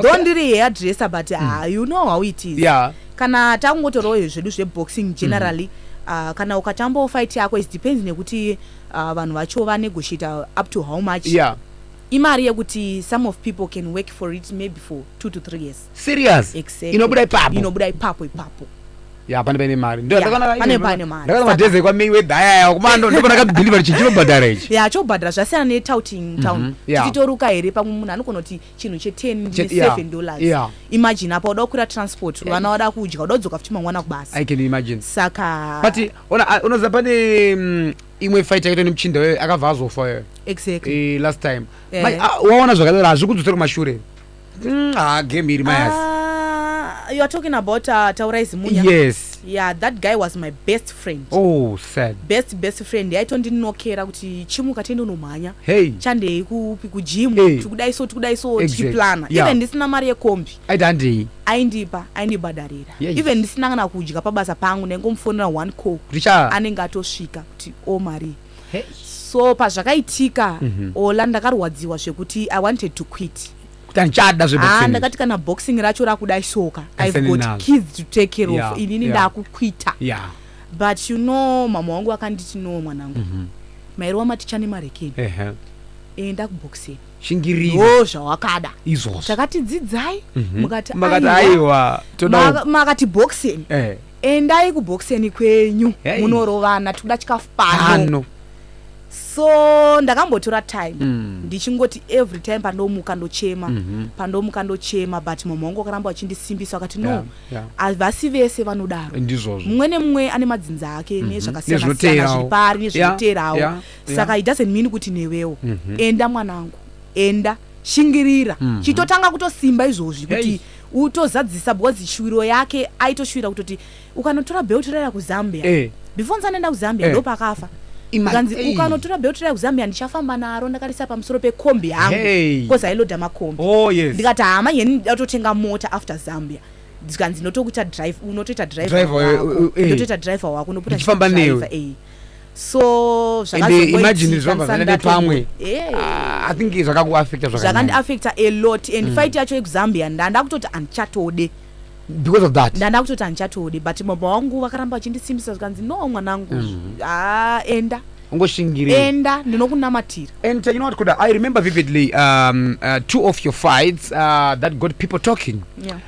though ndiri hairdresser but mm. uh, you know how it is yeah. kana takungotorawo zvedu zveboxing mm. generally mm. uh, kana ukatambawo fight yako it depends nekuti uh, vanhu vacho vanegotiate up to how much yeah imari yekuti some of people can work for it maybe for two to three years serious exactly. inobuda ipapo inobuda ipapo ipapo ya pane paine mari ndakana madhezi ekwa mayweather ayaya kumando ndopana kabhilivha kuti chinobhadhara ichi ya chobhadhara zvasiyana netouting mhm. town tichitoruka here pamwe munhu anogona kuti chinhu cheten seven dollars imagine apa uda kukwira transport vana wada kudya uda kudzoka futi mangwana kubasa saka but unoziva pane mm, imwe fight yakaitwa nemuchinda wee akabva azofa exactly eh, last time eh. ah, waona zvakadaro hazvi kudzosera kumashure mm, ah, game iri mayas ah, you are talking about uh, taurai zimunya yes yeah that guy was my best friend oh sad best best friend yaitondinokera kuti chimuka tiende unomhanya hey chandei kupi kujimu hey. tikudai so tikudai so exactly. tichiplana yeah. even ndisina mari yekombi aita handei aindipa aindibhadharira yes. even ndisina kana kudya pabasa pangu ndaingomufonera one call anenge atosvika kuti o oh, marii hey. so pazvakaitika mm -hmm. ola ndakarwadziwa zvekuti i wanted to quit tanchada zveboxing ah, ndakati kana boxing racho rakuda isoka i've got enough. kids to take care yeah, of inini yeah. ndakukwita yeah. but you know mama wangu akanditi no mwanangu mm -hmm. mairi wamaticha nemarekeni uh -huh. enda kuboxing shingiriro zvawakada izvozvo takatidzidzai mhm. mukati aiwa makati boxing eh. endai kubhokiseni kwenyu Hey. munorovana tikuda chikafu pano Ano. so ndakambotora time Mm. ndichingoti every time pandomuka ndochema Mhm. pandomuka ndochema but mama wangu akaramba vachindisimbisa vakati no Yeah, yeah. havasi vese vanodaro Ndizvozvo. mumwe nemumwe ane madzinza ake Mhm. nezvakasiyana-siyana Nezvinoteerawo. zviri pari Yeah, nezvinoteerawo yeah, yeah. saka it doesn't mean kuti newewo Mhm. enda mwanangu enda shingirira Mhm. chitotanga kutosimba izvozvi kuti Hey. utozadzisa because shuviro yake aitoshuvira kutoti ukanotora belt raya kuzambia eh. before ndisati ndaenda kuzambia eh. ndopakafa kanzi ukanotora belt raya kuzambia ndichafamba naro ndakarisa pamusoro pekombi yangu hey. because ailoda makombi oh, yes. ndikati hama yeni ndatotenga mota after zambia zvikanzi unotokuita drive unotoita drive wako eh, eh. unotoita driver wako unopota driver eh so zvakazoimagine zvavazana nepamwe ah, i think zvakakuaffecta zvakandiaffecta a lot and mm. fight yacho yekuzambia ndanda kutoti andichatode because of that ndanda kutoti andichatode but mama wangu vakaramba vachindisimbisa zvikanzi no mwanangu mm. ah, enda ungoshingirira enda ndinokunamatira and uh, you know what kuda i remember vividly um, uh, two of your fights uh, that got people talking yeah.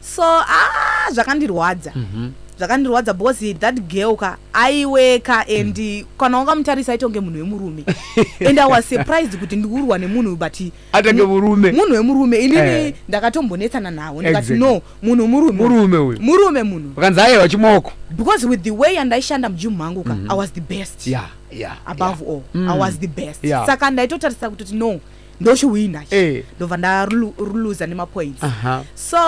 so ah, zvakandirwadza mm -hmm. zvakandirwadza because that girl ka aiweka and mm. kana wangamutarisa aita kunge munhu wemurume and i was surprised kuti ndikurwa nemunhu but atange murume munhu wemurume inini eh. ndakatombonetsana nawo ndikati exactly. no munhu murume murume uyu murume munhu vakanzi aye vachimoko because with the way andaishanda mujimu mangu ka mm -hmm. i was the best yeah, yeah, above yeah. all mm. i was the best yeah. saka ndaitotarisira kutoti no ndochiwina eh. ndobva ndaruluza nemapoints so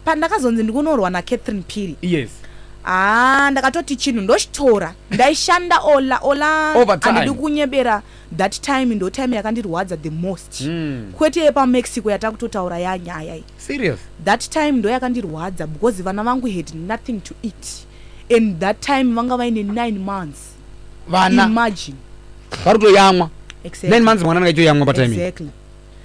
pandakazonzi ndikunorwa nacatherine piri yes haa ndakatoti chinhu ndochitora ndaishanda ola ola andidi kunyebera that time ndo time yakandirwadza the most mm. kwete yepamexico yatakutotaura yanyaya i serious that time ndo yakandirwadza because vana vangu had nothing to eat and that time vanga vaine nine months vana imagine vari kutoyamwa exactly. nine months mwana anenge aitoyamwa patime exactly.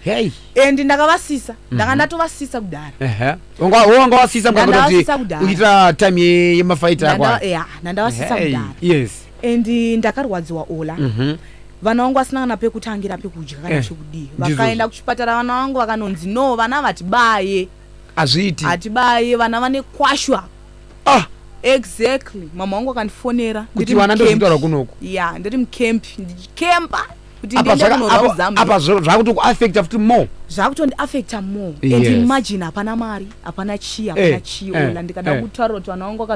hey and ndakavasisa Mhm. ndanga ndatovasisa kudhara ehe wanga wanga wasisa mukanga kuti Ndandavasisa kudhara. uchiita time ye- yemafight ako Ndanda- yeah, ndandavasisa Hey, kudhara yes and eh, ndakarwadziwa ola mhm vana vangu vasina kana pekutangira pekudya kana Eh, chekudii ndizvozvo. vakaenda kuchipatara vana vangu vakanonzi no vana vatibaye hazviiti hatibaye vana vane kwashwa ah exactly mama wangu akandifonera kuti vana ndozvitaura kunoku ya ndiri mucamp ndichikemba kuti ndiende kunorwa kuzambia apa zvakuti kuaffecta futi more zvakutondiaffecta more yes. and imagine hapana mari hapana chii hapana eh, chii eh, ola ndikada eh. kutaura kuti vana wangu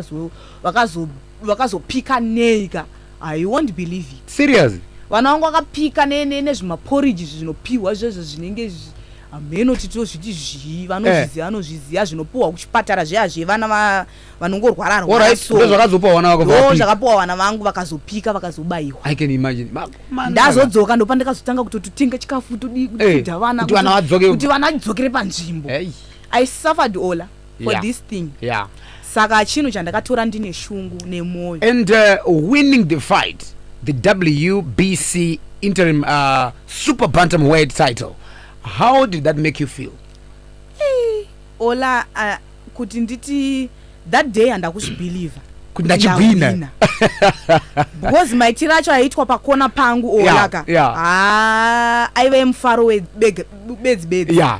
vakazopika neika Ah, you won't believe it. Seriously? Vana vangu vakapika nezvimaporridge izvi zvinopihwa zvezvo zvinenge izvi hameno titi tozviti zvii vanozviziva vanozviziva zvinopuhwa kuchipatara zviya zvevana vanongorwara rwarandozvakazopuwa vana vako zvakapuwa vana vangu vakazopika vakazobayiwa ndazodzoka ndopandakazotanga kutototenga chikafu todii kudza vana kuti vana vadzokere panzvimbo i suffered ola for yeah. this thing yeah. saka chinhu chandakatora ndine shungu nemwoyo and uh, winning the fight the wbc interim uh, super bantam world title how did that make you feel hey, ola uh, kuti nditi that day andakuzvibhilivha kuti ndachigwina because maitiro acho aitwa pakona pangu olaka yeah, yeah. ah, aive mufaro bedzi bedzi yeah.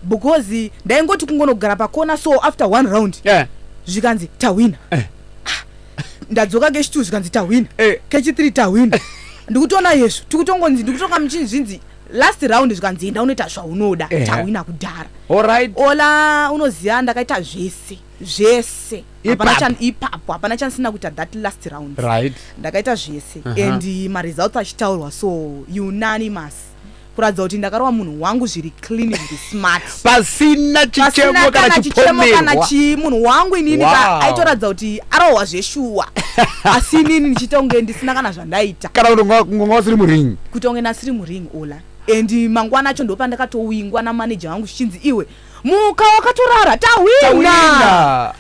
because ndaingoti kungonogara pakona so after one round yeah. zvikanzi tahwina eh. Ah, ndadzoka kechi two zvikanzi tahwina eh. kechi three tahwina ndikutoona yesu tikutongonzi ndikutonga muchini zvinzi last round zvikanzi enda unoita zvaunoda eh. tahwina kudhara right. ola unoziva ndakaita zvese zvese ipapo hapana chanisina kuita that last round right. ndakaita zvese uh -huh. and maresults achitaurwa so unanimous kuratidza kuti ndakarova munhu wangu zviri clean zviri smart pasina chichemo kana chichemo kana chii munhu wangu inini ka aitoratidza kuti arohwa zveshuwa asi inini ndichiita kunge ndisina kana zvandaita kana kuti ngonga wasiri muring kutonge nasiri muring ola and mangwana acho ndopandakatowingwa namaneja wangu zvichinzi iwe muka wakatorara tahwina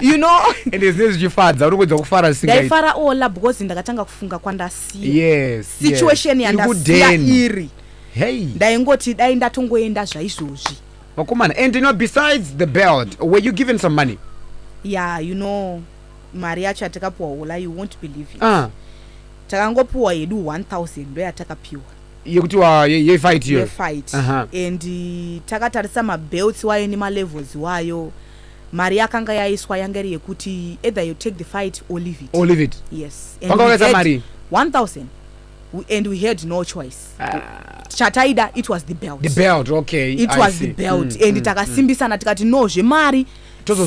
you know and is this jifadza uri kuedza kufara singa dai fara ola because ndakatanga kufunga kwandasiya yes situation yes. yandasiya iri hey ndaingoti dai ndatongoenda zvaizvozvi vakomana and you know besides the belt were you given some money yeah you know mari yacho yatakapuwa ola you won't believe it uh. takangopuwa hedu 1000 ndoyatakapiwa yekuti wa yefight yo yefight uh -huh. and eh, takatarisa mabelts wayo nemalevels wayo mari yakanga yaiswa yanga iri yekuti either you take the fight or leave it or leave it yes panga wakaisa mari 1000 and we had no choice ah. chataida it was the belt the belt okay it I was see. the belt mm, and mm, takasimbisana mm. tikati no zvemari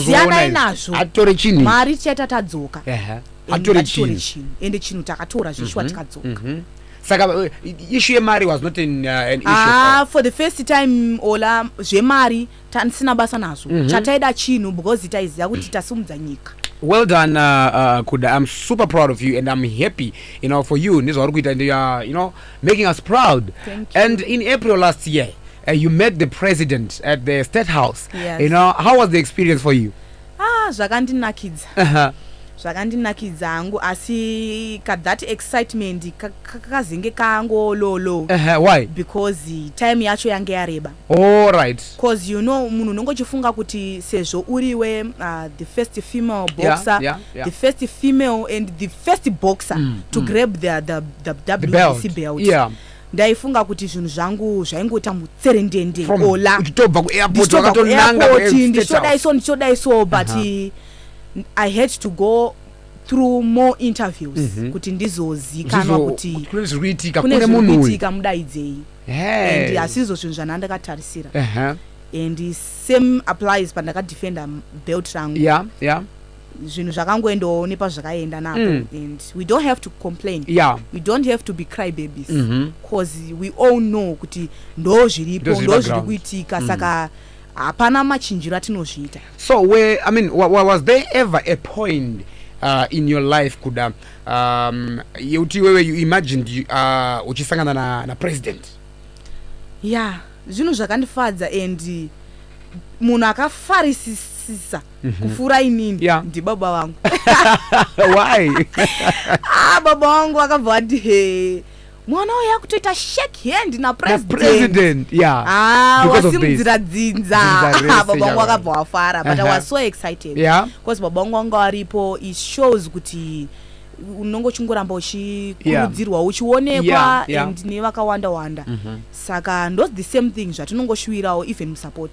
siyanai nazvo atore chinhu mari tichaita tadzoka uh -huh. atore chinhu ende chinhu takatora zveshuwa mm -hmm. tikadzoka mm -hmm. saka uh, issue yemari was not an, uh, an issue ah, for the first time ola zvemari tanisina basa nazvo mm -hmm. chataida chinhu because taiziva kuti tasimudza nyika well done uh, uh, kuda i'm super proud of you and i'm happy you know for you nezvauri kuita and you are you know making us proud Thank you. and in april last year uh, you met the president at the state house yes. you know how was the experience for you ah zvakandinakidza Aha. zvakandinakidza hangu asi ka that excitement ka- ka- kakazenge kango low low Aha, why because time yacho yange yareba all right cause you know munhu unenge uchifunga kuti sezvo uriwe uh, the first female Yeah, boxer yeah, yeah. the first female and the first boxer to grab the, the, the, the belt. WBC belt Yeah. ndaifunga kuti zvinhu zvangu zvaingoita mutserendende ola uchitobva kuairport wakatonanga kuairport ndichodai so ndichodai so but uh -huh. i had to go through more interviews mm -hmm. kuti ndizozikanwa kuti kune zviri kuitika kune munhu kuitika mudaidzei hey. and asizvo zvinhu zvandandakatarisira uh -huh. and same applies pandakadefenda belt rangu yeah, yeah. zvinhu zvakangoendawo nepazvakaenda napo mm. and we don't have to complain yeah. we don't have to be cry babies because mm -hmm. we all know kuti ndo zviripo ndo zviri kuitika mm. saka hapana machinjiro atinozviita so where, I mean, was there ever a point uh, in your life kuda um, yeuti iwewe you imagined uh, uchisangana na, na president ya yeah, zvinhu zvakandifadza and munhu akafarisisisa mm -hmm. kupfuura inini yeah. ndibaba vangu why ah, baba wangu vakabva vati he mwana uya kutoita shake hand napresident yeah. ah, wasimudzira dzinza baba wangu vakabva wafara but uh -huh. i was so excited yeah. because baba wangu wanga waripo it shows kuti unonge uchingoramba uchikurudzirwa yeah. uchionekwa yeah, yeah. and nevakawanda wanda mm -hmm. saka ndos the same thing zvatinongoshuvirawo even musupport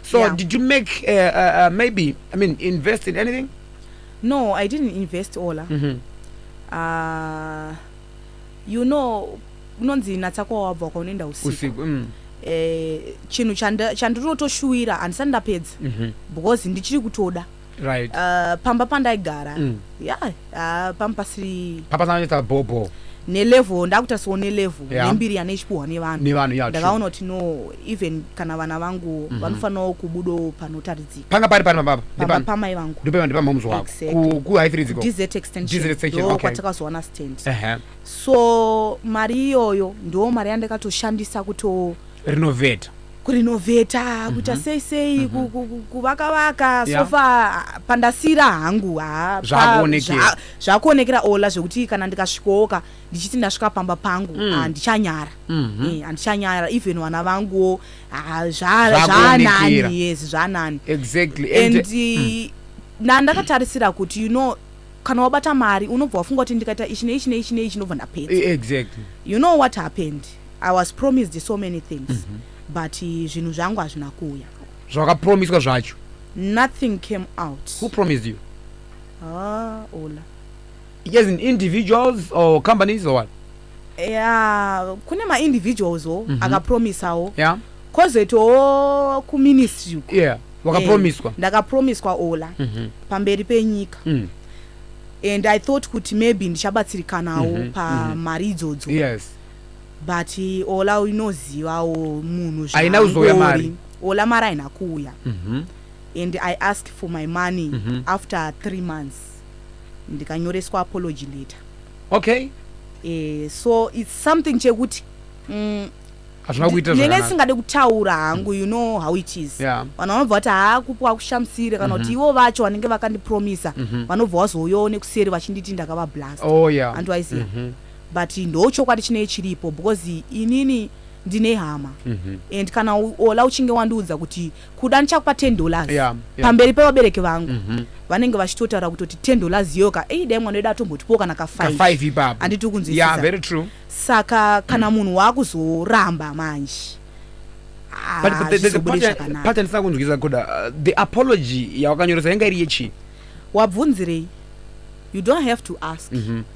So yeah. did you make uh, uh, uh, maybe I mean invest in anything? No, I didn't invest Ola. Mm -hmm. uh, you know kunonzi natsa kwawabva kwaunoenda usiku mm. eh, chinhu chandirotoshuwira handisati ndapedza mm -hmm. because ndichiri kutoda mm -hmm. right uh, pamba pandaigara mm. ya yeah, uh, pamba pasiri pamba sananetsa bhobho nelevel ndakutarisirwa nelevel yeah. nembiri yane ichipuhwa nevanhu nevanhu yeah, ndakaona kuti no even kana vana vangu mm -hmm. vanofanirawo kubudawo panotaridzika panga pari pari pamba pamba pamai vangu ndipo ndipo mhamzi wako exactly. ku high three ziko dz extension dz extension okay kwatakazowana stand uh -huh. so mari iyoyo ndo mari yandakatoshandisa kuto renovate kurinovheta mm -hmm. kuita mhm. sei sei mm -hmm. kuvaka vaka yeah. sofa pandasira hangu zvakuonekera zva, ola zvekuti kana ndikasvikoka ndichiti ndasvika pamba pangu mm. handichanyara mm. mm -hmm. eh, handichanyara even vana vanguwo zvanani yes zvanani exactly. and, and eh, mm. na ndakatarisira kuti you know kana wabata mari unobva wafunga kuti ndikaita ichi neichi neichi neichi ndobva ndapedza exactly. you know what happened I was promised so many things mm -hmm. but eh, zvinhu zvangu hazvina kuuya zvakapromiswa zvacho nothing came out who promised you ah ola yes in individuals or companies or what yeah kune ma individuals o mm -hmm. akapromisawo yeah kozoitawo kuministry uko yeah wakapromiswa eh, ndakapromiswa ola mm -hmm. pamberi penyika mm. and i thought kuti maybe ndichabatsirikanawo mm -hmm. pamari mm -hmm. idzodzo yes but ola inozivawo munhu haina kuzouya mari ola mari haina kuuya mm -hmm. and i ask for my money mm -hmm. after three months ndikanyoreswa apology letter okay eh, so its something chekuti mm, hazvina kuita nenge isingade kutaura hangu you know how it is vanhu vanobva vati haa kupi wakushamisire kana kuti mhm. ivo vacho vanenge vakandipromisa mhm. vanobva wazouyawo nekuseri vachinditi ndakavablast oh, andiwaiziva mhm. but ndochokwadi chinei chiripo because inini ndine hama mm -hmm. and kana ola uchinge wandiudza kuti kuda ndichakupa 10 dollars yeah, yeah. pamberi pevabereki vangu mm -hmm. vanenge vachitotaura kutoti 10 dollars yoka ei dai mwana wedu atombotipo kana ka 5 ipapo anditi ukunzwisisa yeah, very true saka kana mm. munhu waakuzoramba manje patandisina ah, kunzwisa kuda uh, the apology yawakanyoresa yanga iri yechii wabvunzirei you don't have to ask mm -hmm.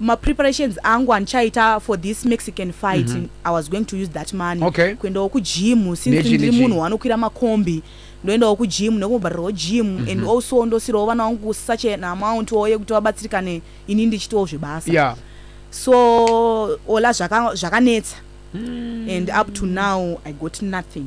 mapreparations angu andichaita for this mexican fight mm -hmm. i was going to use that money okay. kuendawo kugym since ndiri munhu wanokwira makombi ndoendawo kugym nekumubharirwawo gym mm -hmm. and mhm. also ndosirawo vana wangu such an amount wo yekuti vabatsirikane ini ndichitawo zvebasa yeah. so ola zvakanetsa zvaka mm. and up to now i got nothing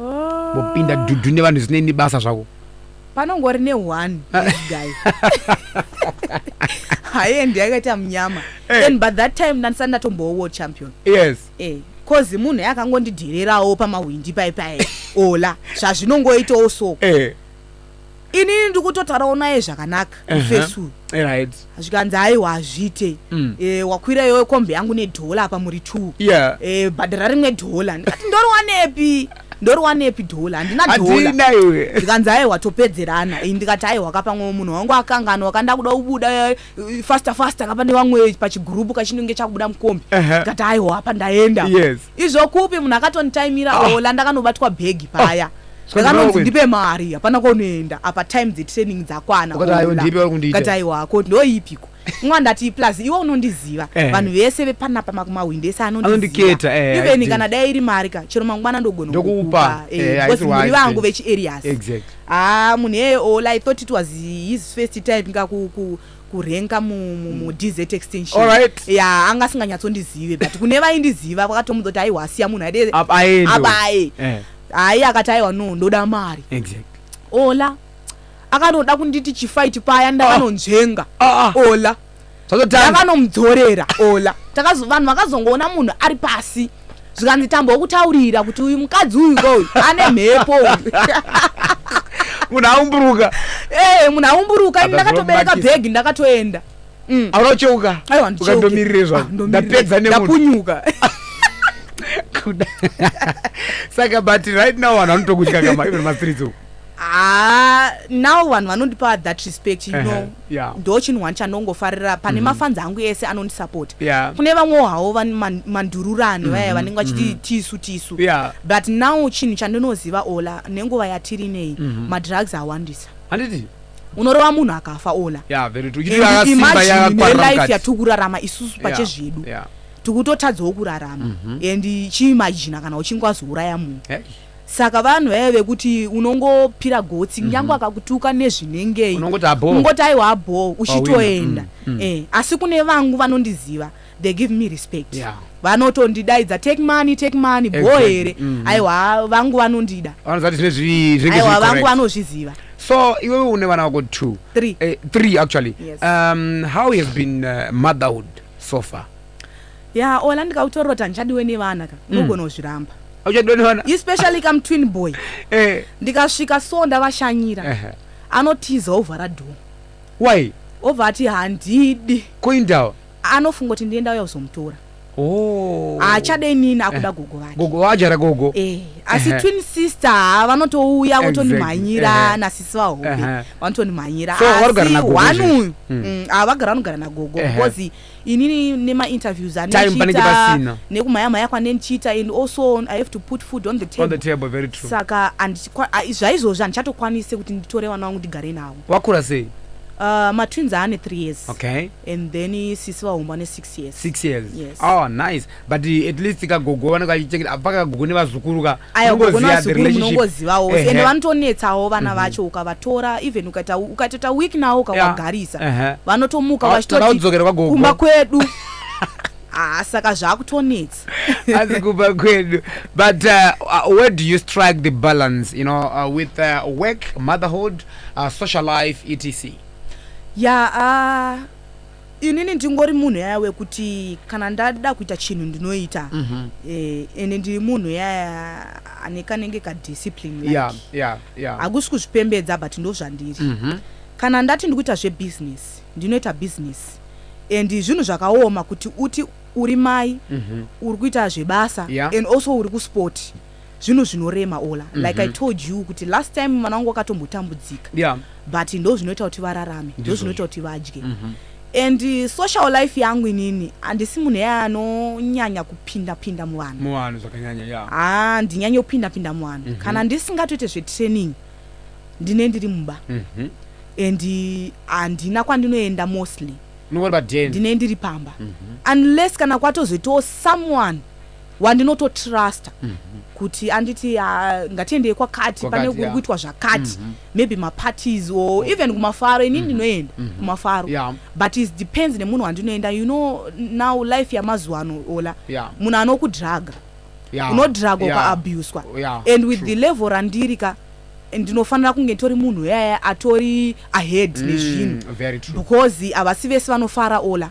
Oh. Mopinda dudu ne vanhu zine basa zvako. Panongori ne one ah. this guy. Haye ndiye akaita mnyama. Hey. Eh. Then but that time ndandisa ndatombowo world champion. Yes. Eh. Cause munhu yakangondidhererawo pamahwindi pai pai. Ola. Zvazvinongoitawo so. Eh. inini ndikutotaurawo naye zvakanaka mufesi uyu zvikanzi aiwa hazviite mm. eh, wakwira iyoyo kombi yangu nedhola apa muri t eh, bhadhara rimwe dhola ndikati ndoriwanepi ndoriwanepi dhola handina dhola zvikanzi aiwa topedzerana ndikati aiwa kapamwewo munhu wangu akangana wakanda kuda kubuda faster faster kapa nevamwe pachigrupu kachinenge chakubuda mukombi tikati aiwa apa ndaenda izvo kupi munhu akatonitaimira ah. ola ndakanobatwa bhegi paya ah. ndakanonzi ndipe mari hapana kwaunoenda apa time dzetraining dzakwana kati aiwa ko ndoipiko mwa ndati plus iwe unondiziva eh. vanhu vese vepanapa makumahwindi ese anondiketa eh, even kana dai iri mari ka chero mangwana ndogona kukupa eh, muri vangu vechiareas Haa munhu iyeye all I thought it was his first time nga ku, ku, kurenka mu, mu, mu DZ extension. Alright. Ya anga asinganyatsondizive but kune vaindiziva vakatomudza kuti aiwa asiya munhu aide Ab- aende. abaye. Eh, Hayi akati aiwa no ndoda mari. exactly. Ola akanoda kunditi chifight paya ndakanonzvenga. Ah, ah. Ola ndakanomudzorera ola vanhu vakazongoona munhu ari pasi zvikanzi tambo wokutaurira kuti uyu mukadzi uyu kouyu ane mhepo munhu aumburuka ee eh, munhu aumburuka ini ndakatobereka bhegi ndakatoenda mm. aura ucheuka ukandomirire zvanondapedza ah, nemundapunyuka kuda saka but right now vanhu vanotokutya kama even mastreets uku ah, now vanhu vanondipa that respect you know yeah. ndo chinhu one chandongofarira pane mm -hmm. mafanzi angu ese anondisapota yeah. kune vamwewo hawo man, mandururani mm -hmm. vaya vanenge vachiti mm -hmm. tisu tisu yeah. but now chinhu chandinoziva ola nenguva yatiri nei mm -hmm. madrugs awandisa handiti unorova munhu akafa ola yeah, imajinelife yatiri kurarama isusu pache zvedu yeah. yeah. tikutotadzawo kurarama mm -hmm. and chiimajina kana uchinge wazouraya munhu hey. saka vanhu vaive vekuti unongopira gotsi kunyange mhm. akakutuka nezvinengei ungoti aiwa abhoo uchitoenda mm, mm. Eh, asi kune vangu vanondiziva they give me respect yeah. vanotondidaidza take money take money bho here mm. aiwa vangu vanondida aiwa vangu vanozviziva so iwewe une vana vako two three, eh, three actually yes. um, how has been uh, motherhood so far Yaa Ola ndikakutorota handichadiwe nevana ka mm. unogona kuzviramba. Hauchadiwe nevana? Especially kam twin boy. Eh. Ndikasvika so ndavashanyira. Eh. Anotiza ovhara door. Why? Ovha ati handidi. Koindawa. Anofunga kuti ndienda uya kuzomutora. Oh. haachade inini akuda eh. gogo vake gogo waajara gogo eh asi eh. twin sister ah, vanotouya votondimhanyira eh. nasisi vahobe vanotondimhanyira asi one uyu hmm. mm, ah, vagara vanogara nagogo because inini nemainterviews anendichiita nekumhaya mhaya kwanendichiita and also i have to put food on the table, on the table very true. saka zvaizvozvi handichatokwanise kuti nditore vana vangu ndigare navo wakura sei Uh, matwins aane three years okay. and then sisi vahomba ne six years six years yes. oh, nice but at least kagogo vanenge vachichengeta apa kagogo nevazukuru ka unongozivawo ende vanotonetsawo vana mhm. vacho ukavatora even ukatoita week nawo ukawagarisa vanotomuka ah, vachitotikumba kwedu ah, saka zvakutonetsa asi kumba kwedu but uh, where do you strike the balance you know uh, with uh, work motherhood uh, social life etc ya yeah, uh, Inini ndingori munhu yaya wekuti kana ndada kuita chinhu ndinoita mm -hmm. eh, ende ndiri munhu yaya ane kanenge kadiscipline like. yeah, yeah, yeah. hakusi kuzvipembedza but ndozvandiri mm -hmm. kana ndati ndikuita zvebusiness ndinoita business and zvinhu zvakaoma kuti uti uri mai mm -hmm. uri kuita zvebasa yeah. and also uri kusport zvinhu zvinorema ola mm -hmm. like i mhm. told you kuti last time mwana wangu wakatombotambudzika yeah. but ndo zvinoita kuti vararame ndo zvinoita kuti vadye mm -hmm and uh, social life yangu inini handisi munhu eye anonyanya kupinda pinda muvanhu muvanhu zvakanyanya ya ah ndinyanye kupinda pinda muvanhu mm -hmm. kana ndisingatoite zvetraining ndine ndiri mumba mm -hmm. and uh, handina uh, kwandinoenda mostly ndine ndiri pamba mm -hmm. unless kana kwatozoitawo someone wandinototrusta mm -hmm. kuti anditi uh, ngatiendei kwakati pane kuri kuitwa zvakati mm -hmm. maybe maparties or okay. even kumafaro ini mhm. ndinoenda mm -hmm. kumafaro yeah. but it depends nemunhu wandinoenda you know now life yamazuva ano ola yeah. munhu anokudhraga yeah. unodhraga yeah. ukaabuswa yeah. and with True. the level randiri ka ndinofanira kunge tori munhu yaya atori ahead mm, nezvinhu because havasi vese vanofara ola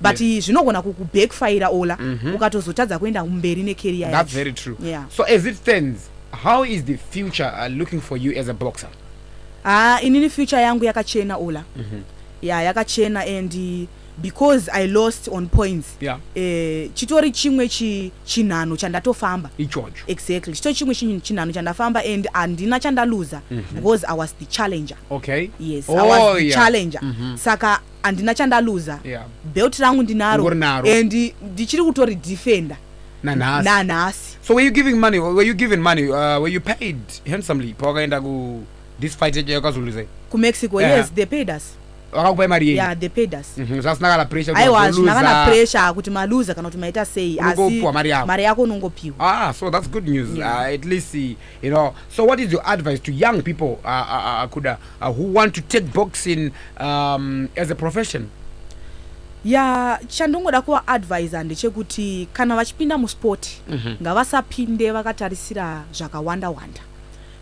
but yeah. zvinogona kukubackfire ola mm -hmm. ukatozotadza kuenda mberi necareer yacho that's very true yeah. so as it stands how is the future uh, looking for you as a boxer ah inini future yangu yakachena ola mm -hmm. yeah yakachena and uh, because i lost on points yeah. eh, chitori chimwe chinhano chandatofamba ichocho exactly chitori chimwe chinhano chandafamba and handina chandaluza mm -hmm. because i was the challenger okay yes oh, i was oh, the yeah. challenger mm -hmm. saka handina chandaluza yeah. belt rangu ndinaro and ndichiri kutori defender nanhasi nanhasi so were you giving money were you given money uh, were you paid handsomely pawakaenda ku this fight yacho yakazoluza ku mexico yeah. yes they paid us vakakupai mari yei yeah, they paid us mm -hmm. zvasina kana pressure aiwa zvina kana pressure kuti maluza kana kuti maita sei asi mari yako mari yako unongopiwa ah so that's good news yeah. uh, at least you know so what is your advice to young people uh, uh, uh, kuda uh, who want to take boxing um, as a profession ya chandongoda kuvaadvisa ndechekuti kana vachipinda musport mm -hmm. ngavasapinde vakatarisira zvakawanda wanda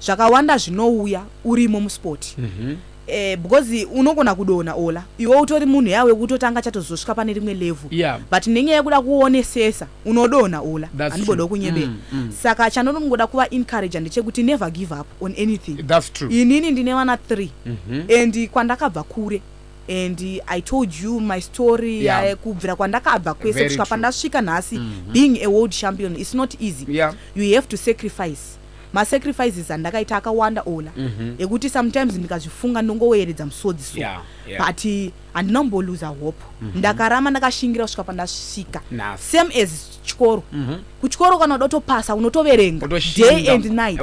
zvakawanda zvinouya urimo musport mm -hmm. Eh, because unogona kudona ola iwe utori munhu yawe kutotanga chatozosvika pane rimwe level yeah. but nenyaya yekuda kuonesesa unodonha ola handibodawo kunyebera mm, mm. saka chandonogoda kuva encourage ndechekuti never give up on anything inini ndine vana three mm -hmm. and kwandakabva kure and i told you my story yeah. uh, kubvira kwandakabva kwese kusvika pandasvika nhasi mm -hmm. being a world champion is not easy yeah. you have to sacrifice masacrifices andakaita akawanda ola mm -hmm. ekuti sometimes ndikazvifunga ndongoweeredza musodzi so yeah, yeah. but handina kumboluza hope mm -hmm. ndakarama ndakashingira kusvika pandasvika same as chikoro mm -hmm. kuchikoro kana uda utopasa unotoverenga day and night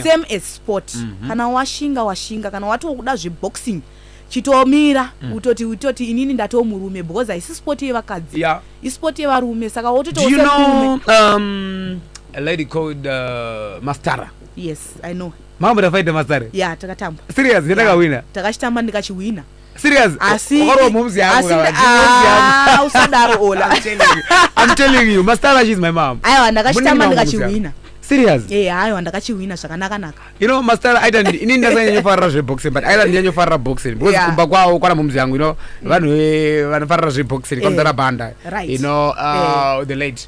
same as sport mm -hmm. kana washinga washinga kana watokuda zveboxing chitomira mm. utoti utoti inini ndatiwo murume because haisi sport yevakadzi yeah. isport yevarume saka wototiwo you know, um, a lady called uh, mastara yes i know mambo takaita mastara ya yeah, takatamba serious ndakawina yeah. takachitamba ndikachiwina Serious? Asi Ukarova momzi yangu asi kana, momzi yangu. ah, usadaro Ola. I'm telling you. I'm telling you, Mastala, she's my mom. Aiwa ndakachitamba Munini mambo ndikachihwina. Serious? Eh aiwa ndakachihwina zvakanaka naka. You know, Mastala, aita ndi- ini ndasanyanyofarira zveboxing but aita ndinyanyofarira boxing because Yeah. kumba kwawo kwana momzi yangu you know vanhu eh, vanofarira zveboxing Eh, kwamzara banda right. you know uh, the late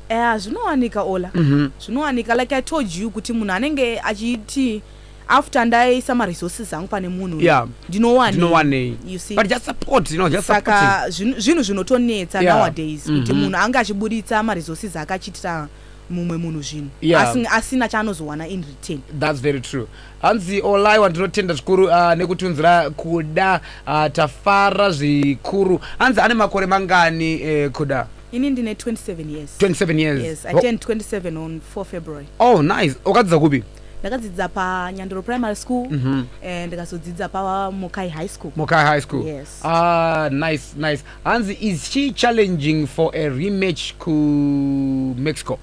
Eya zvinowanika Ola. Mhm. Zvinowanika like I told you kuti munhu anenge achiti after ndaisa ma resources angu pane munhu uyu, Yeah. ndinowanei. ndinowanei You see? but just support you know just supporting saka zvinhu zvinhu zvinotonetsa Yeah. nowadays kuti Mhm. munhu ange achiburitsa maresources ake achiitira mumwe munhu zvinhu Yeah. Asing- asina chaanozowana in return that's very true hanzi olaiwa ndinotenda zvikuru uh, nekutunzira kuda uh, tafara zvikuru hanzi ane makore mangani eh, kuda Ini ndine 27 years. 27 years. Yes, I turned 27 on 4 February. Oh, nice. Wakadzidza kupi? ndakadzidza panyandoro primary school mm -hmm. and ndikazodzidza pamokai high school mokai high school yes. ah, nice nice hanzi is she challenging for a rematch kumexico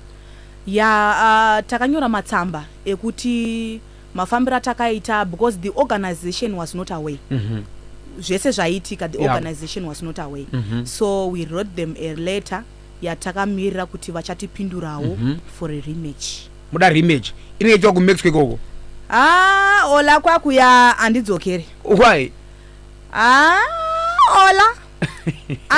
ya yeah, uh, takanyora matsamba ekuti mafambiro atakaita because the organization was not away mm -hmm. zvese zvaiitika the yeah. organization was not away mm -hmm. so we wrote them a letter yatakamirira kuti vachatipindurawo mm -hmm. for a rematch muda rematch inoitwa kumexico ikoko ah ola kwakuya handidzokere why ah ola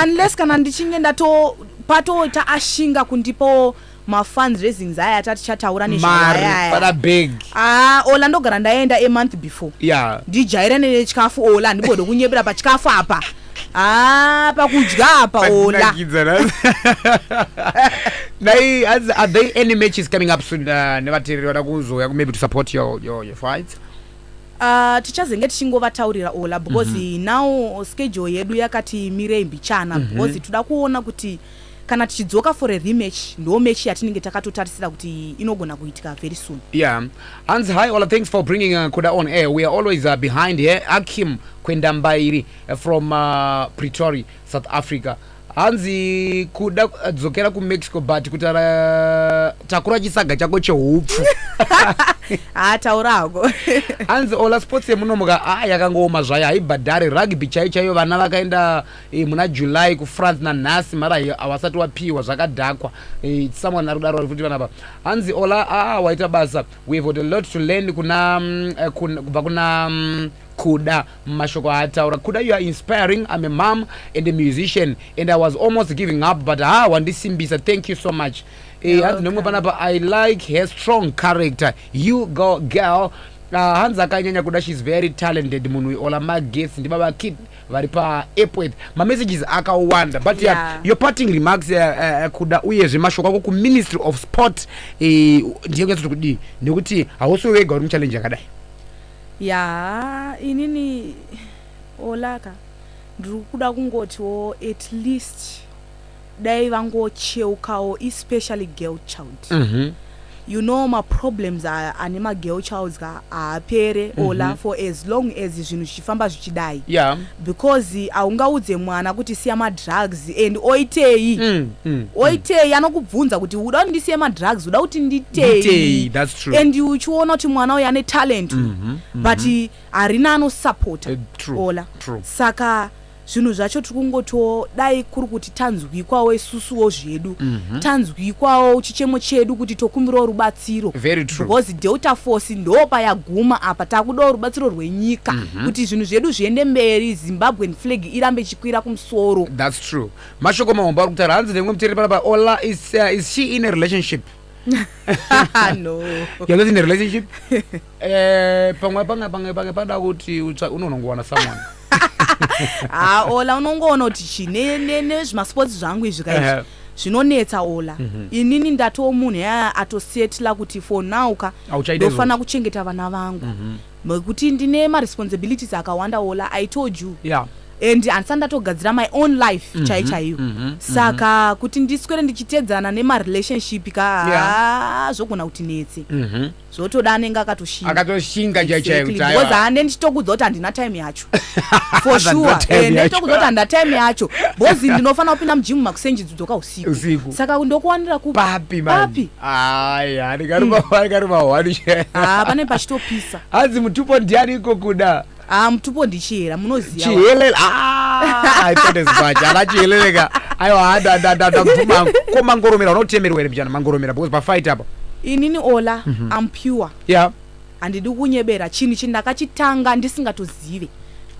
unless kana ndichinge ndato patoita ashinga kundipo mafans zvezinza aya ati atichataura nezvaayaaya bag ah ola ndogara ndaenda a month before yeah ndijaira nechikafu ola ndibode kunyepera pachikafu apa ah pakudya apa ola dai as are there any matches coming up soon uh, nevatereri vada kuzouya maybe to support your your, your fights Uh, tichazenge tichingovataurira ola because mm -hmm. now schedule yedu yakati mirei mbichana mm -hmm. because toda kuona kuti kana tichidzoka for a rematch ndo match yatinenge takatotarisira kuti inogona kuitika very soon yeah hanzi hi ola thanks for bringing uh, kuda on air we are always uh, behind here akim kwendambairi uh, from uh, pretoria south africa hanzi kuda uh, dzokera kumexico but kuti uh, takura chisaga chako cheupfu haa taura hako hanzi ola sports yemunomuka a ah, yakangooma zvayo haibhadhari rugby chaiyo chaiyo vana vakaenda Eh, muna july kufrance nanhasi mara hawasati wapiwa zvakadhakwa eh, someone ari kudaro futi vanapa hanzi ola aa ah, waita basa we have got a lot to learn kuna mm, eh, kubva kuna mm, kuda mashoko aataura kuda you are inspiring i'm a mom and a musician and i was almost giving up but ha ah, wandisimbisa thank you so much hanzi nomwe panapa i like her strong character you go girl ah, hanzi akanyanya kuda she's very talented munhu ola magesi ndibaba kid vari paepwet mamessages akawanda but yeah. Yeah. your parting remarks uh, uh, kuda uyezve mashoko ako kuministry of sport eh, ndiye kunyatsoti kudii nekuti hausi wega uri muchallenge yakadai ya inini olaka ndiri kuda kungotiwo at least Dai vangocheukawo especially girl child. Mm -hmm. You know ma problems ane ma girl childs ka haapere mm -hmm. ola mhm. for as long as zvinhu zvichifamba zvichidai. Yeah. Because haungaudze mwana kuti siya ma drugs and oitei. Mm, mm, mm. oitei mm. anokubvunza kuti uda kuti ndisiye ma drugs uda kuti nditei. Nditei, that's true. And uchiona kuti mwana uyu ane talent. Mm -hmm. Mm -hmm. But harina anosupporta. Uh, eh, true. Ola. True. Saka zvinhu zvacho tiri kungotiwo dai kuri kuti tanzwikwawo isusuwo zvedu mm -hmm. tanzwikwawo chichemo chedu kuti tokumbirawo rubatsiro because delta force ndo payaguma apa takudawo rubatsiro rwenyika mm -hmm. kuti zvinhu zvedu zviende mberi zimbabwean flag irambe ichikwira kumusoro thats true mashoko mahombo ari kutaura hanzi nemwe mutereri panapa ola is, uh, is she in a relationship no. you're not in a relationship Eh, pamwe pange pange pange pada kuti unonongowana someone ha ola unongoona kuti chi nezvimasports zvangu izvi kaizvi zvinonetsa ola mm -hmm. inini ndatowo munhu yaa atosetla kuti for now ka ndofanira kuchengeta vana vangu mhm. nekuti mm -hmm. ndine maresponsibilities akawanda ola i told you yeah and handisati ndatogadzira my own life mm -hmm. chai chaiyo mm -hmm. saka mm -hmm. kuti ndiswere ndichiteedzana nemarelationship ka yeah. zvogona kuti netse mm -hmm. zvotoda anenge akatoshinga akatoshinga chaiyo chaiyo kuti aiwa. because hande ndichitokudza kuti handina time yacho for Handina sure time Eh, yacho. nditokudza kuti handina time yacho because ndinofanira kupinda mujimu makusenji dzidzoka usiku Usiku. saka ndokuwanira kupi papi man papi ayi handikaruma handikaruma hwani ah pane pachitopisa hanzi mutupo ndiani iko kuda Ah mutupo ndichihera munoziva. Chihelele. Ah, I thought as much. Ala chihelele ka. Ayo ada ada ada ada mvuma. Ko mangoromera unotemerwa here mjana mangoromera because pa fight apa. Inini Ola mm -hmm. I'm pure. Yeah. Andidi kunyebera chini chini ndakachitanga ndisingatozive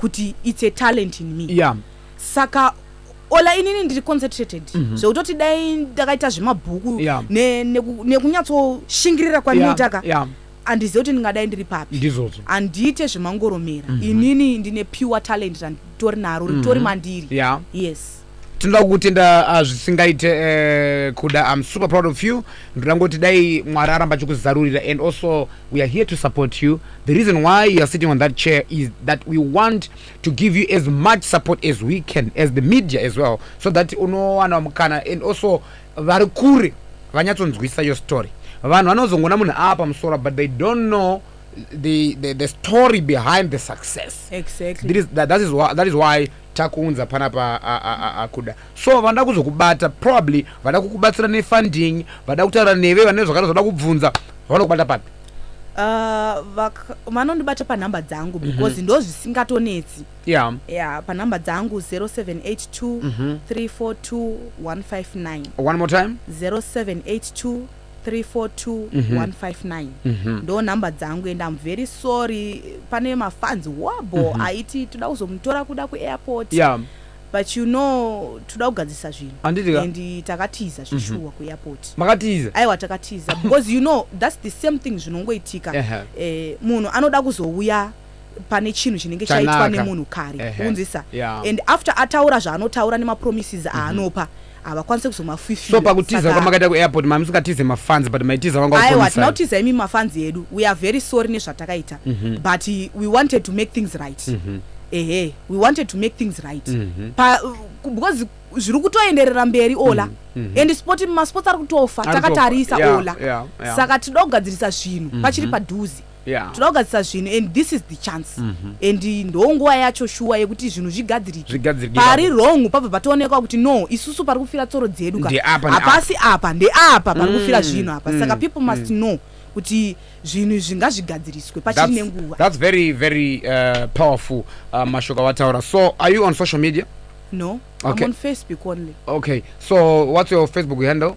kuti it's a talent in me. Yeah. Saka ola inini ndiri concentrated mm -hmm. zvekutoti dai ndakaita zvemabhuku yeah. nekunyatsoshingiririra ne, ne kwandinoitaka yeah. yeah. andizive kuti ndingadai ndiri papi ndizvozvo handiite zvemangoromera mm -hmm. inini ndine pure talent randitori naro mhm. ritori mandiri yeah. yes tinoda kukutenda ah, zvisingaite eh, kuda im super proud of you ndoda ngoti dai mwari aramba achikuzarurira and also we are here to support you the reason why you are sitting on that chair is that we want to give you as much support as we can as the media as well so that unowana mukana and also vari kure vanyatsonzwisa your story vanhu vanozongona munhu ava pamusoro but they don't know the, the, the story behind the success exactly. that, is, that, that, is why, that is why takuunza panapa akuda so vanoda kuzokubata probably vada kukubatsira nefunding vada kutaura neve vane zvakada zvada kubvunza vanokubata papi uh, vanondibata panhamba dzangu mhm. because mm -hmm. ndozvisingatonetsi yeah. yeah, panumber dzangu 0782 mm -hmm. 342 159 one more time 0782 342 mhm. ndo number dzangu and im very sorry pane mafans wabo mm -hmm. aiti toda kuzomutora kuda kuairport yeah but you know toda kugadzisa zvinhu and takatiza mhm. zvishuwa mm -hmm. kuairport makatiza aiwa takatiza because you know thats the same thing zvinongoitika uh -huh. eh, munhu anoda kuzouya pane chinhu chinenge chaitwa nemunhu kare unzisa yeah. and after ataura zvaanotaura nemapromises mhm. aanopa mm -hmm havakwanise kuzomafwifira so pakutiza kwamakaita kuairport mamusingatize mafans but maitiza vanga aiwa tinautiza imi mafans edu we are very sorry nezvatakaita mm -hmm. but we wanted to make things right mm -hmm. ehe we wanted to make things right mm -hmm. pa, because zviri kutoenderera mberi ola mm -hmm. and sport masports ari kutofa takatarisa yeah, ola yeah, yeah. saka tinoda kugadzirisa zvinhu mm -hmm. pachiri padhuzi Yeah. tinoda kugadzirisa zvinhu and this is the chance mm -hmm. and ndo nguva yacho shuwa yekuti zvinhu zvigadzirike pari wrong pabva patoonekwa kuti no isusu pari kufira tsoro dzedu ka hapasi apa ndeapa pari mm, kufira zvinhu apa mm, saka people must mm. know kuti zvinhu izvi ngazvigadziriswe pachiri nenguva that's very very uh, powerful uh, mashoko awataura so are you on social media no okay. I'm on facebook only okay so what's your facebook handle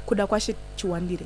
kuda kwashe chiwandire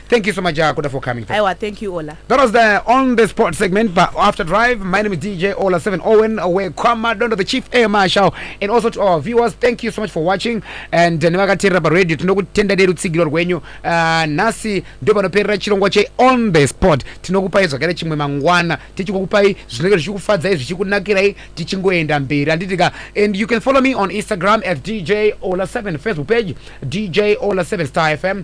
Thank you so much, uh, Koda, for coming. Through. Aiwa, thank you, Ola. That was the on the spot segment, but after drive, my name is DJ Ola Seven Owen, away Kwama Dondo, the chief air marshal, and also to our viewers, thank you so much for watching. And uh, nevakateerera radio tinokutenda dedu tsigiro rwenyu uh, nhasi ndio panoperera chirongwa che on the spot tinokupai zvakare chimwe mangwana tichikukupai zvinenge zvichikufadzai zvichikunakirai tichingoenda mberi handitika and you can follow me on instagram at dj ola 7 facebook page dj ola 7 star fm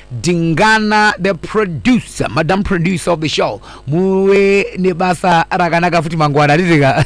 Dingana the producer, madam producer of the show, muve nebasa rakanaka futi mangwana ririka